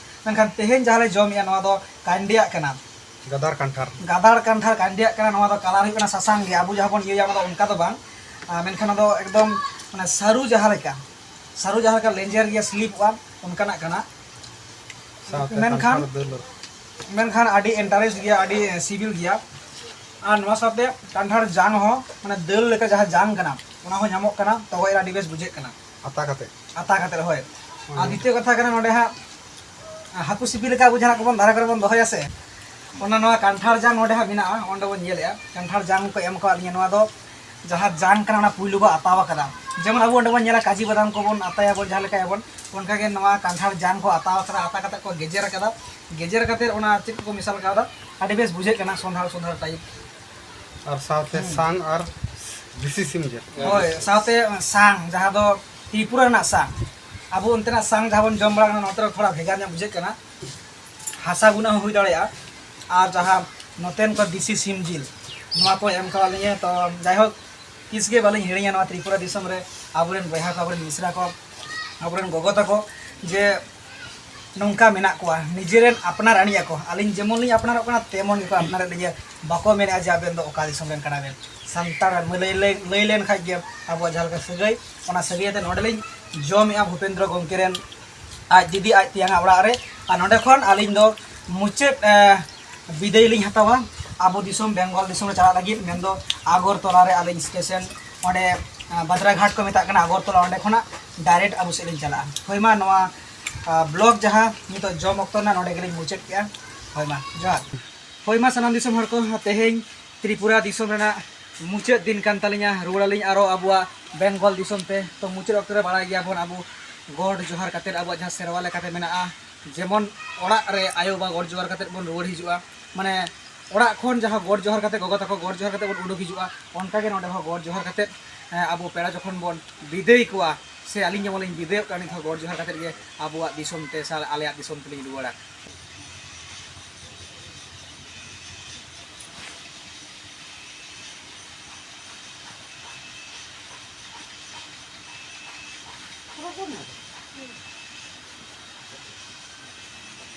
ᱢᱮᱱᱠᱷᱟᱱ ᱛᱮᱦᱮᱧ ᱡᱟᱦᱟᱸ ᱞᱮ ᱡᱚᱢᱮᱜᱼᱟ ᱱᱚᱣᱟ ᱫᱚ ᱠᱟᱱᱰᱤᱭᱟᱜ ᱠᱟᱱᱟ ᱜᱟᱫᱟᱲ ᱠᱟᱱᱴᱷᱟᱲ ᱜᱟᱫᱟᱲ ᱠᱟᱱᱴᱷᱟᱲ ᱠᱟᱱᱰᱤᱭᱟᱜ ᱠᱟᱱᱟ ᱱᱚᱣᱟ ᱫᱚ ᱠᱟᱞᱟᱨ ᱦᱩᱭᱩᱜ ᱠᱟᱱᱟ ᱥᱟᱥᱟᱝ ᱜᱮ ᱟᱵᱚ ᱡᱟᱦᱟᱸ ᱵᱚᱱ ᱤᱭᱟᱹᱭᱟ ᱚᱱᱟ ᱫᱚ ᱚᱱᱠᱟ ᱫᱚ ᱵᱟᱝ ᱢᱮᱱᱠᱷᱟᱱ ᱚᱱᱟ ᱫᱚ ᱮᱠᱫᱚᱢ ᱢᱟᱱᱮ ᱥᱟᱹᱨᱩ ᱡᱟᱦᱟᱸ ᱞᱮᱠᱟ ᱥᱟᱹᱨᱩ ᱡᱟᱦᱟᱸ ᱞᱮᱠᱟ ᱞᱮᱸᱡᱮᱨ ᱜᱮᱭᱟ ᱥᱞᱤᱯᱚᱜᱼᱟ ᱚᱱᱠᱟᱱᱟᱜ ᱠᱟᱱᱟ ᱢᱮᱱᱠᱷᱟᱱ ᱢᱮᱱᱠᱷᱟᱱ ᱟᱹᱰᱤ ᱤᱱᱴᱟᱨᱮᱥᱴ ᱜᱮᱭᱟ ᱟᱹᱰᱤ ᱥᱤᱵᱤᱞ ᱜᱮᱭᱟ ᱟᱨ ᱱᱚᱣᱟ ᱥᱟᱶᱛᱮ ᱠᱟᱱᱴᱷᱟᱲ ᱡᱟᱝ ᱦᱚᱸ ᱢᱟᱱᱮ ᱫᱟᱹᱞ ᱞᱮᱠᱟ ᱡᱟᱦᱟᱸ ᱡᱟᱝ ᱠᱟᱱᱟ ᱚᱱᱟ ᱦᱚᱸ ᱧᱟᱢᱚᱜ ᱠᱟᱱᱟ ᱛᱚᱜᱚᱡ ᱨᱮ ᱟᱹᱰᱤ ᱵᱮᱥ ᱵᱩᱡᱷᱟᱹᱜ ᱠᱟᱱᱟ ᱟᱛᱟ ᱠᱟᱛᱮ ᱟᱛᱟ ᱠᱟᱛᱮ ᱦᱳᱭ ᱟᱨ ᱫᱤᱛᱤᱭᱚ ᱠᱟᱛᱷᱟ ᱠᱟᱱᱟ ᱱᱚᱰᱮ ᱦᱟᱸᱜ ᱦᱟᱹᱠᱩ ᱥᱤᱯᱤ ᱞᱮᱠᱟ ᱟᱵᱚ ᱡᱟᱦᱟᱸ ᱠᱚᱵᱚᱱ ᱫᱟᱨᱮ ᱠᱚᱨᱮ ᱵᱚᱱ ᱫᱚᱦᱚᱭᱟ ᱥᱮ ᱚᱱᱟ ᱱᱚᱣᱟ ᱠᱟᱱᱴᱷᱟᱲ ᱡᱟᱝ ᱱᱚᱰᱮ ᱦᱟᱸᱜ ᱢᱮᱱᱟᱜᱼᱟ ᱚᱸᱰᱮ ᱵᱚᱱ ᱧᱮᱞᱮᱜᱼᱟ ᱠᱟᱱᱴᱷᱟᱲ ᱡᱟᱝ ᱠᱚ ᱮᱢ ᱠᱟᱣᱟᱫ ᱞᱤᱧᱟ ᱱᱚᱣᱟ ᱫᱚ ᱡᱟᱦᱟᱸ ᱡᱟᱝ ᱠᱟᱱᱟ ᱚᱱᱟ ᱯᱩᱭᱞᱩ ᱵᱚ ᱟᱛᱟᱣ ᱟᱠᱟᱫᱟ ᱡᱮᱢᱚᱱ ᱟᱵᱚ ᱚᱸᱰᱮ ᱵᱚᱱ ᱧᱮᱞᱟ ᱠᱟᱡᱤ ᱵᱟᱫᱟᱢ ᱠᱚᱵᱚᱱ ᱟᱛᱟᱭᱟᱵᱚᱱ ᱡᱟᱦᱟᱸ ᱞᱮᱠᱟᱭᱟᱵᱚᱱ ᱚᱱᱠᱟ ᱜᱮ ᱱᱚᱣᱟ ᱠᱟᱱᱴᱷᱟᱲ ᱡᱟᱝ ᱠᱚ ᱟᱛᱟᱣ ᱟᱠᱟᱫᱟ ᱟᱛᱟ ᱠᱟᱛᱮ ᱠᱚ ᱜᱮᱡᱮᱨ ᱟᱠᱟᱫᱟ ᱜᱮᱡᱮᱨ ᱠᱟᱛᱮ ᱚᱱᱟ ᱪᱮᱫ ᱠᱚ ᱢᱮᱥᱟᱞ ᱠᱟᱣᱫᱟ ᱟᱹᱰᱤ ᱵᱮᱥ ᱵᱩᱡᱷᱟᱹᱜ ᱠᱟᱱᱟ ᱥᱚᱸᱫᱷᱟᱲ ᱥᱚᱸᱫᱷᱟᱲ ᱴᱟᱭᱤᱯ ᱟᱨ ᱥᱟᱶᱛᱮ ᱥᱟᱝ ᱟᱨ ᱫᱮᱥᱤ ᱥᱤᱢ ᱡᱤᱞ ᱦᱳᱭ ᱥᱟᱶᱛᱮ ᱥᱟᱝ ᱡᱟᱦᱟᱸ ᱫᱚ ᱛᱨᱤᱯᱩᱨᱟ ᱨᱮᱱᱟᱜ ᱥᱟᱝ ᱟᱵᱚ ᱚᱱᱛᱮᱱᱟᱜ ᱥᱟᱝ ᱡᱟᱦᱟᱸ ᱵᱚᱱ ᱡᱚᱢ ᱵᱟᱲᱟ ᱠᱟᱱᱟ ᱱᱚᱛᱮ ᱨᱮ ᱛᱷᱚᱲᱟ ᱵᱷᱮᱜᱟᱨ ᱧᱚᱜ ᱵᱩᱡᱷᱟᱹᱜ ᱠᱟᱱᱟ ᱦᱟᱥᱟ ᱜᱩᱱᱟᱹ ᱦᱚᱸ ᱦᱩᱭ ᱫᱟᱲᱮᱭᱟᱜᱼᱟ ᱟᱨ ᱡᱟᱦᱟᱸ ᱱᱚᱛᱮᱱ ᱠᱚ ᱫᱮᱥᱤ ᱥᱤᱢ ᱡᱤᱞ ᱱᱚᱣᱟ ᱠᱚ ᱮᱢ ᱠᱟᱣᱟᱫ ᱞᱤᱧᱟᱹ ᱛᱚ ᱡᱟᱭᱦᱳᱠ ᱛᱤᱥ ᱜᱮ ᱵᱟᱹᱞᱤᱧ ᱦᱤᱲᱤᱧᱟ ᱱᱚᱣᱟ ᱛᱨᱤᱯᱩᱨᱟ ᱫᱤᱥᱚᱢ ᱨᱮ ᱟᱵᱚᱨᱮᱱ ᱵᱚᱭᱦᱟ ᱠᱚ ᱟᱵᱚᱨᱮᱱ ᱢᱤᱥᱨᱟ ᱠᱚ ᱟᱵᱚᱨᱮᱱ ᱜᱚᱜᱚ ᱛᱟᱠᱚ ᱡᱮ ᱱᱚᱝᱠᱟ ᱢᱮᱱᱟᱜ ᱠᱚᱣᱟ ᱱᱤᱡᱮ ᱨᱮᱱ ᱟᱯᱱᱟᱨ ᱟᱹᱱᱤᱡ ᱟᱠᱚ ᱟᱹᱞᱤᱧ ᱡᱮᱢᱚᱱ ᱞᱤᱧ ᱟᱯᱱᱟᱨᱚᱜ ᱠᱟᱱᱟ ᱛᱮᱢᱚᱱ ᱜᱮᱠᱚ ᱟᱯᱱᱟᱨᱮᱫ ᱞᱤᱧᱟᱹ ᱵᱟᱠᱚ ᱢᱮᱱᱮᱫᱼᱟ ᱡᱮ ᱟᱵᱮᱱ ᱫᱚ ᱚᱠᱟ ᱫᱤᱥᱚᱢ ᱨᱮᱱ ᱠᱟᱱᱟ ᱵᱮᱱ ᱥᱟᱱᱛᱟᱲ ᱞᱟᱹᱭ ᱞᱮᱱ ᱠᱷᱟᱱ ᱜᱮ ᱟᱵᱚᱣᱟᱜ ᱡᱟᱦᱟᱸ ᱞᱮᱠᱟ ᱥᱟᱹᱜᱟᱹᱭ ᱚᱱᱟ ᱥᱟᱹᱜᱟᱹᱭ ᱟᱛᱮᱫ ᱱᱚᱰᱮ ᱞᱤᱧ ᱡᱚᱢᱮᱫᱼᱟ ᱵᱷᱩᱯᱮᱱᱫᱨᱚ ᱜᱚᱢᱠᱮ ᱨᱮᱱ ᱟᱡ ᱫᱤᱫᱤ ᱟᱡ ᱛᱮᱭᱟᱝ ᱟᱜ ᱚᱲᱟᱜ ᱨᱮ ᱟᱨ ᱱᱚᱰᱮ ᱠᱷᱚᱱ ᱟᱹᱞᱤᱧ ᱫᱚ ᱢᱩᱪᱟᱹᱫ ᱵᱤᱫᱟᱹᱭ ᱞᱤᱧ ᱦᱟᱛᱟᱣᱟ ᱟᱵᱚ ᱫᱤᱥᱚᱢ ᱵᱮᱝᱜᱚᱞ ᱫᱤᱥᱚᱢ ᱨᱮ ᱪᱟᱞᱟᱜ ᱞᱟᱹᱜᱤᱫ ᱢᱮᱱᱫᱚ ᱟᱜᱚᱨᱛᱚᱞᱟ ᱨᱮ ᱟᱹᱞᱤᱧ ᱥᱴᱮᱥᱚᱱ ᱚᱸᱰᱮ ᱵᱟᱫᱽᱨᱟᱜᱷᱟᱴ ᱠᱚ ᱢᱮᱛᱟᱜ ᱠᱟᱱᱟ ᱟᱜᱚᱨᱛᱚᱞᱟ ᱚᱸᱰᱮ ᱠᱷᱚᱱᱟᱜ ᱰᱟᱭᱨᱮᱠᱴ ᱟᱵᱚ ᱥᱮᱫ ᱞᱤᱧ ᱪᱟᱞᱟᱜᱼᱟ ᱦᱳᱭ ᱢᱟ ᱱᱚᱣᱟ ᱵᱞᱚᱜ ᱡᱟᱦᱟᱸ ᱱᱤᱛᱚᱜ ᱡᱚᱢ ᱚᱠᱛᱚ ᱨᱮᱱᱟᱜ ᱱᱚᱰᱮ ᱜᱮᱞᱤᱧ ᱢᱩᱪᱟᱹᱫ ᱠᱮᱜᱼᱟ ᱦᱳᱭ ᱢᱟ ᱡᱚᱦᱟᱨ ᱦᱳᱭ ᱢᱟ ᱥᱟᱱᱟᱢ ᱫᱤᱥᱚᱢ ᱦᱚᱲ ᱠᱚ ᱛᱮᱦᱮᱧ ᱛᱨᱤᱯᱩᱨᱟ ᱫᱤᱥᱚᱢ ᱨᱮᱱᱟᱜ ᱢᱩᱪᱟᱹᱫ ᱫᱤᱱ ᱠᱟᱱ ᱛᱟᱹᱞᱤᱧᱟ ᱨᱩᱣᱟᱹᱲ ᱟᱹᱞᱤᱧ ᱟᱨᱚ ᱟᱵᱚᱣᱟᱜ ᱵᱮᱝᱜᱚᱞ ᱫᱤᱥᱚᱢ ᱛᱮ ᱛᱚ ᱢᱩᱪᱟᱹᱫ ᱚᱠᱛᱚ ᱨᱮ ᱵᱟᱲᱟᱭ ᱜᱮᱭᱟ ᱵᱚᱱ ᱟᱵᱚ ᱜᱚᱰ ᱡᱚᱦᱟᱨ ᱠᱟᱛᱮᱫ ᱟᱵᱚᱣᱟᱜ ᱡᱟᱦᱟᱸ ᱥᱮᱨᱣᱟ ᱞᱮᱠᱟᱛᱮ ᱢᱮᱱᱟᱜᱼᱟ ᱡᱮᱢᱚᱱ ᱚᱲᱟᱜ ᱨᱮ ᱟᱭᱳ ᱵᱟᱵᱟ ᱜᱚᱰ ᱡᱚᱦᱟᱨ ᱠᱟᱛᱮᱫ ᱵᱚᱱ ᱨᱩᱣᱟᱹᱲ ᱦᱤᱡᱩᱜᱼᱟ ᱢᱟᱱᱮ ᱚᱲᱟᱜ ᱠᱷᱚᱱ ᱡᱟᱦᱟᱸ ᱜᱚᱰ ᱡᱚᱦᱟᱨ ᱠᱟᱛᱮ ᱜᱚᱜᱚ ᱛᱟᱠᱚ ᱜᱚᱰ ᱡᱚᱦᱟᱨ ᱠᱟᱛᱮ ᱵᱚᱱ ᱩᱰᱩᱠ ᱦᱤᱡᱩᱜᱼᱟ ᱚᱱᱠᱟ ᱜᱮ ᱱᱚᱰᱮ ᱦᱚᱸ ᱜᱚᱰ ᱡᱚᱦᱟᱨ ᱠᱟᱛᱮ ᱟᱵᱚ ᱯᱮᱲᱟ ᱡᱚᱠᱷᱚᱱ ᱵᱚᱱ ᱵᱤᱫᱟᱹᱭ ᱠᱚᱣᱟ ᱥᱮ ᱟᱹᱞᱤᱧ ᱡᱮᱢᱚᱱ ᱞᱤᱧ ᱵᱤᱫᱟᱹᱭᱚᱜ ᱠᱟᱱᱟ ᱱᱤᱛ ᱦᱚᱸ ᱜᱚᱰ ᱡᱚᱦᱟᱨ ᱠᱟᱛᱮ ᱜᱮ ᱟᱵᱚᱣᱟᱜ ᱫᱤᱥᱚᱢ ᱛᱮ ᱥᱮ ᱟᱞᱮᱭᱟᱜ ᱫᱤᱥᱚᱢ ᱛᱮᱞᱤᱧ ᱨᱩᱣᱟᱹᱲᱟ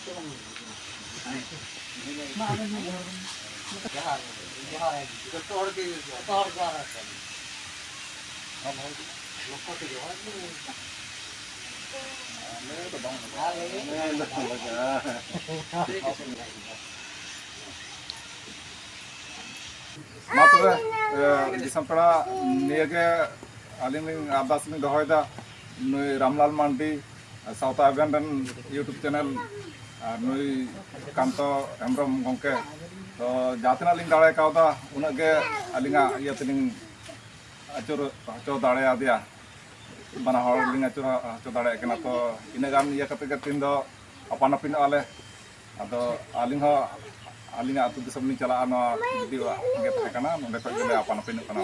Thank you. ᱢᱟ ᱛᱚᱵᱮ ᱫᱤᱥᱚᱢ ᱯᱮᱲᱟ ᱱᱤᱭᱟᱹᱜᱮ ᱟᱹᱞᱤᱧ ᱞᱤᱧ ᱟᱨᱫᱟᱥ ᱞᱤᱧ ᱫᱚᱦᱚᱭᱮᱫᱟ ᱱᱩᱭ ᱨᱟᱢᱞᱟᱞ ᱢᱟᱱᱰᱤ ᱥᱟᱶᱛᱟ ᱟᱵᱮᱱ ᱨᱮᱱ ᱤᱭᱩᱴᱩᱵᱽ ᱪᱮᱱᱮᱞ ᱟᱨ ᱱᱩᱭ ᱠᱟᱱᱛᱚ ᱦᱮᱢᱵᱨᱚᱢ ᱜᱚᱢᱠᱮ ᱛᱚ ᱡᱟᱦᱟᱸ ᱛᱤᱱᱟᱹᱜ ᱞᱤᱧ ᱫᱟᱲᱮ ᱠᱟᱣᱫᱟ ᱩᱱᱟᱹᱜ ᱜᱮ ᱟᱹᱞᱤᱧᱟᱜ ᱤᱭᱟᱹ ᱛᱮᱞᱤᱧ ᱟᱹᱪᱩᱨ ᱦᱚᱪᱚ ᱫᱟᱲᱮᱭᱟᱫᱮᱭᱟ ᱵᱟᱱᱟ ᱦᱚᱲ ᱞᱤᱧ ᱟᱹᱪᱩᱨ ᱦᱚᱪᱚ ᱫᱟᱲᱮᱭᱟᱜ ᱠᱟᱱᱟ ᱛᱚ ᱤᱱᱟᱹᱜ ᱜᱟᱱ ᱤᱭᱟᱹ ᱠᱟᱛᱮᱫ ᱜᱮ ᱛᱮᱦᱮᱧ ᱫᱚ ᱟᱯᱟᱱ ᱟᱹᱯᱤᱱᱚᱜᱼᱟ ᱞᱮ ᱟᱫᱚ ᱟᱹᱞᱤᱧ ᱦᱚᱸ ᱟᱹᱞᱤᱧᱟᱜ ᱟᱹᱛᱩ ᱫᱤᱥᱚᱢ ᱞᱤᱧ ᱪᱟᱞᱟᱜᱼᱟ ᱱᱚᱣᱟ ᱡᱩᱫᱤ ᱜᱮ ᱛᱟᱦᱮᱸ ᱠᱟᱱᱟ ᱱᱚᱸᱰᱮ ᱠᱷᱚᱱ ᱜᱮᱞᱮ ᱟᱯᱟᱱ ᱟᱹᱯᱤᱱᱚᱜ ᱠᱟᱱᱟ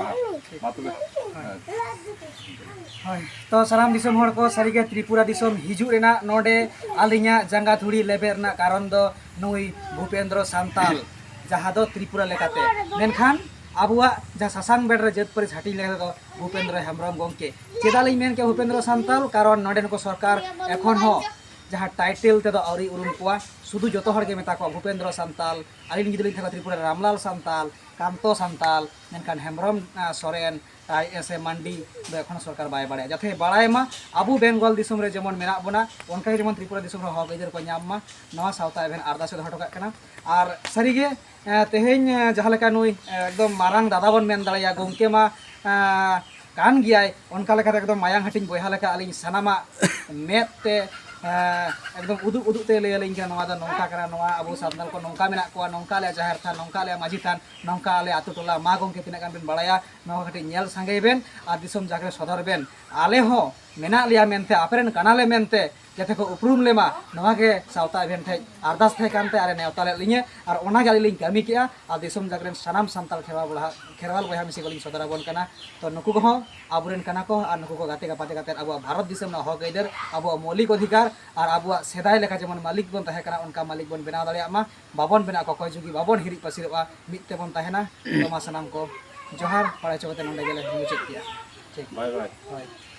ᱢᱟ ᱛᱚᱵᱮ ᱦᱳᱭ ᱛᱚ ᱥᱟᱱᱟᱢ ᱫᱤᱥᱚᱢ ᱦᱚᱲ ᱠᱚ ᱥᱟᱹᱨᱤᱜᱮ ᱛᱨᱤᱯᱩᱨᱟ ᱫᱤᱥᱚᱢ ᱦᱤᱡᱩᱜ ᱨᱮᱱᱟᱜ ᱱᱚᱸᱰᱮ ᱟᱹᱞᱤᱧᱟᱜ ᱡᱟᱸᱜᱟ ᱫᱷᱩᱲᱤ ᱞᱮᱵᱮᱫ ᱨᱮᱱᱟᱜ ᱠᱟᱨᱚᱱ ᱫᱚ ᱱᱩᱭ ᱵᱷᱩᱯᱮᱱᱫᱨᱚ ᱥᱟᱱᱛᱟᱞ ᱡᱟᱦᱟᱸ ᱫᱚ ᱛᱨᱤᱯᱩᱨᱟ ᱞᱮᱠᱟᱛᱮ ᱢᱮᱱᱠᱷᱟᱱ ᱟᱵᱚᱣᱟᱜ ᱡᱟᱦᱟᱸ ᱥᱟᱥᱟᱝ ᱵᱮᱲ ᱨᱮ ᱡᱟᱹᱛ ᱯᱟᱹᱨᱤᱥ ᱦᱟᱹᱴᱤᱧ ᱞᱮᱠᱟ ᱛᱮᱫᱚ ᱵᱷᱩᱯᱮᱱᱫᱨᱚ ᱦᱮᱢᱵᱨᱚᱢ ᱜᱚᱢᱠᱮ ᱪᱮᱫᱟᱜ ᱞᱤᱧ ᱢᱮᱱ ᱠᱮᱫᱟ ᱵᱷᱩᱯᱮᱱᱫᱨᱚ ᱥᱟᱱᱛᱟᱞ ᱠᱟᱨᱚᱱ ᱱᱚᱸᱰᱮᱱ ᱠᱚ ᱥᱚᱨᱠᱟᱨ ᱮᱠᱷᱚᱱ ᱦᱚᱸ ᱡᱟᱦᱟᱸ ᱴᱟᱭᱴᱮᱞ ᱛᱮᱫᱚ ᱟᱹᱣᱨᱤ ᱩᱨᱩᱢ ᱠᱚᱣᱟ ᱥᱩᱫᱷᱩ ᱡᱚᱛᱚ ᱦᱚᱲ ᱜᱮ ᱢᱮᱛᱟ ᱠᱚᱣᱟ ᱵᱷᱩᱯᱮᱱᱫᱨᱚ ᱥᱟᱱᱛᱟᱞ ᱟᱹᱞᱤᱧ ᱡᱩᱫᱤ ᱞᱤᱧ ᱛᱟᱦᱮᱸ ᱛᱨᱤᱯᱩᱨᱟ ᱨᱟᱢᱞᱟᱞ ᱥᱟᱱᱛᱟᱞ ᱠᱟᱱᱛᱚ ᱥᱟᱱᱛᱟᱞ ᱢᱮᱱᱠᱷᱟᱱ ᱦᱮᱢᱵᱨᱚᱢ ᱥᱚᱨᱮᱱ ᱟᱡ ᱥᱮ ᱢᱟᱱᱰᱤ ᱫᱚ ᱮᱠᱷᱚᱱ ᱥᱚᱨᱠᱟᱨ ᱵᱟᱭ ᱵᱟᱲᱟᱭᱟ ᱡᱟᱛᱮ ᱵᱟᱲᱟᱭ ᱢᱟ ᱟᱵᱚ ᱵᱮᱝᱜᱚᱞ ᱫᱤᱥᱚᱢ ᱨᱮ ᱡᱮᱢᱚᱱ ᱢᱮᱱᱟᱜ ᱵᱚᱱᱟ ᱚᱱᱠᱟ ᱡᱮᱢᱚᱱ ᱛᱨᱤᱯᱩᱨᱟ ᱫᱤᱥᱚᱢ ᱨᱮ ᱦᱚᱠ ᱟᱹᱭᱫᱟᱹᱨ ᱠᱚ ᱧᱟᱢ ᱢᱟ ᱱᱚᱣᱟ ᱥᱟᱶᱛᱟ ᱮᱵᱷᱮᱱ ᱟᱨᱫᱟᱥ ᱮ ᱫᱚᱦᱚ ᱦᱚᱴᱚ ᱠᱟᱜ ᱠᱟᱱᱟ ᱟᱨ ᱥᱟᱹᱨᱤᱜᱮ ᱛᱮᱦᱮᱧ ᱡᱟᱦᱟᱸ ᱞᱮᱠᱟ ᱱᱩᱭ ᱮᱠᱫᱚᱢ ᱢᱟᱨᱟᱝ ᱫᱟᱫᱟ ᱵᱚᱱ ᱢᱮᱱ ᱫᱟᱲᱮᱭᱟᱭᱟ ᱜᱚᱢᱠᱮ ᱢᱟ ᱠᱟᱱ ᱜᱮᱭᱟᱭ ᱚᱱᱠᱟ ᱞᱮᱠᱟᱛᱮ ᱮᱠᱫᱚᱢ ᱢᱟᱭᱟᱝ ᱦᱟᱹᱴᱤᱧ ᱵᱚᱭᱦᱟ ᱞᱮᱠᱟ ᱟᱹᱞᱤᱧ ᱥᱟᱱᱟᱢᱟᱜ ᱢᱮᱫ ᱛᱮ ᱮᱠᱫᱚᱢ ᱩᱫᱩᱜ ᱩᱫᱩᱜ ᱛᱮ ᱞᱟᱹᱭ ᱟᱹᱞᱤᱧ ᱠᱟᱱᱟ ᱱᱚᱣᱟ ᱫᱚ ᱱᱚᱝᱠᱟ ᱠᱟᱱᱟ ᱱᱚᱣᱟ ᱟᱵᱚ ᱥᱟᱱᱛᱟᱲ ᱠᱚ ᱱᱚᱝᱠᱟ ᱢᱮᱱᱟᱜ ᱠᱚᱣᱟ ᱱᱚᱝᱠᱟ ᱟᱞᱮ ᱡᱟᱦᱮᱨ ᱛᱷᱟᱱ ᱱᱚᱝᱠᱟ ᱟᱞᱮ ᱢᱟᱹᱡᱷᱤ ᱛᱷᱟᱱ ᱱᱚᱝᱠᱟ ᱟᱞᱮ ᱟᱛᱳ ᱴᱚᱞᱟ ᱢᱟ ᱜᱚᱢᱠᱮ ᱛᱤᱱᱟᱹᱜ ᱜᱟᱱ ᱵᱮᱱ ᱵᱟᱲᱟᱭᱟ ᱱᱚᱣᱟ ᱠᱟᱹᱴᱤᱡ ᱧᱮᱞ ᱥᱟᱸᱜᱮᱭ ᱵᱮᱱ ᱟᱨ ᱫᱤᱥᱚᱢ ᱡᱟᱜᱮ ᱥᱚᱫᱚᱨ ᱵᱮᱱ ᱟᱞᱮ ᱦᱚᱸ ᱢᱮᱱᱟᱜ ᱞᱮᱭᱟ ᱢᱮᱱᱛᱮ ᱟᱯᱮ ᱨᱮᱱ ᱠᱟᱱᱟᱞᱮ ᱢᱮᱱᱛᱮ ᱡᱟᱛᱮ ᱠᱚ ᱩᱯᱨᱩᱢ ᱞᱮᱢᱟ ᱱᱚᱣᱟ ᱜᱮ ᱥᱟᱶᱛᱟ ᱮᱵᱷᱮᱱ ᱴᱷᱮᱡ ᱟᱨᱫᱟᱥ ᱛᱟᱦᱮᱸ ᱠᱟᱱᱛᱮ ᱟᱨᱮ ᱱᱮᱣᱛᱟ ᱞᱮᱫ ᱞᱤᱧᱟᱹ ᱟᱨ ᱚᱱᱟ ᱜᱮ ᱟᱹᱞᱤᱧ ᱞᱤᱧ ᱠᱟᱹᱢᱤ ᱠᱮᱜᱼᱟ ᱟᱨ ᱫᱤᱥᱚᱢ ᱡᱟᱠ ᱨᱮᱱ ᱥᱟᱱᱟᱢ ᱥᱟᱱᱛᱟᱲ ᱠᱷᱮᱨᱣᱟᱞ ᱵᱚᱭᱦᱟ ᱠᱷᱮᱨᱣᱟᱞ ᱵᱚᱭᱦᱟ ᱢᱤᱥᱤ ᱠᱚᱞᱤᱧ ᱥᱚᱫᱚᱨ ᱟᱵᱚᱱ ᱠᱟᱱᱟ ᱛᱚ ᱱᱩᱠᱩ ᱠᱚᱦᱚᱸ ᱟᱵᱚᱨᱮᱱ ᱠᱟᱱᱟ ᱠᱚ ᱟᱨ ᱱᱩᱠᱩ ᱠᱚ ᱜᱟᱛᱮ ᱜᱟᱯᱟᱛᱮ ᱠᱟᱛᱮ ᱟᱵᱚᱣᱟᱜ ᱵᱷᱟᱨᱚᱛ ᱫᱤᱥᱚᱢ ᱨᱮᱱᱟᱜ ᱦᱚᱠ ᱟᱹᱭᱫᱟᱹᱨ ᱟᱵᱚᱣᱟᱜ ᱢᱚᱣᱞᱤᱠ ᱚᱫᱷᱤᱠᱟᱨ ᱟᱨ ᱟᱵᱚᱣᱟᱜ ᱥᱮᱫᱟᱭ ᱞᱮᱠᱟ ᱡᱮᱢᱚᱱ ᱢᱟᱹᱞᱤᱠ ᱵᱚᱱ ᱛᱟᱦᱮᱸ ᱠᱟᱱᱟ ᱚᱱᱠᱟ ᱢᱟᱹᱞᱤᱠ ᱵᱚᱱ ᱵᱮᱱᱟᱣ ᱫᱟᱲᱮᱭᱟᱜ ᱢᱟ ᱵᱟᱵᱚᱱ ᱵᱮᱱᱟᱣ ᱠᱚ ᱚᱠᱚᱭ ᱡᱩᱜᱤ ᱵᱟᱵᱚᱱ ᱦᱤᱨᱤᱡ ᱯᱟᱹᱥᱤᱨᱚᱜᱼᱟ ᱢᱤᱫ ᱛᱮᱵᱚᱱ ᱛᱟᱦᱮᱱᱟ ᱛᱚ ᱢᱟ ᱥᱟᱱᱟᱢ ᱠᱚ ᱡᱚᱦᱟᱨ ᱵᱟᱲᱟᱭ ᱦᱚᱪᱚ ᱠᱟᱛᱮ ᱱᱚᱰᱮ ᱜᱮᱞᱮ ᱢᱩᱪᱟᱹᱫ ᱠᱮᱜᱼᱟ ᱴᱷᱤᱠ ᱵᱟᱭ ᱵᱟᱭ ᱦᱳᱭ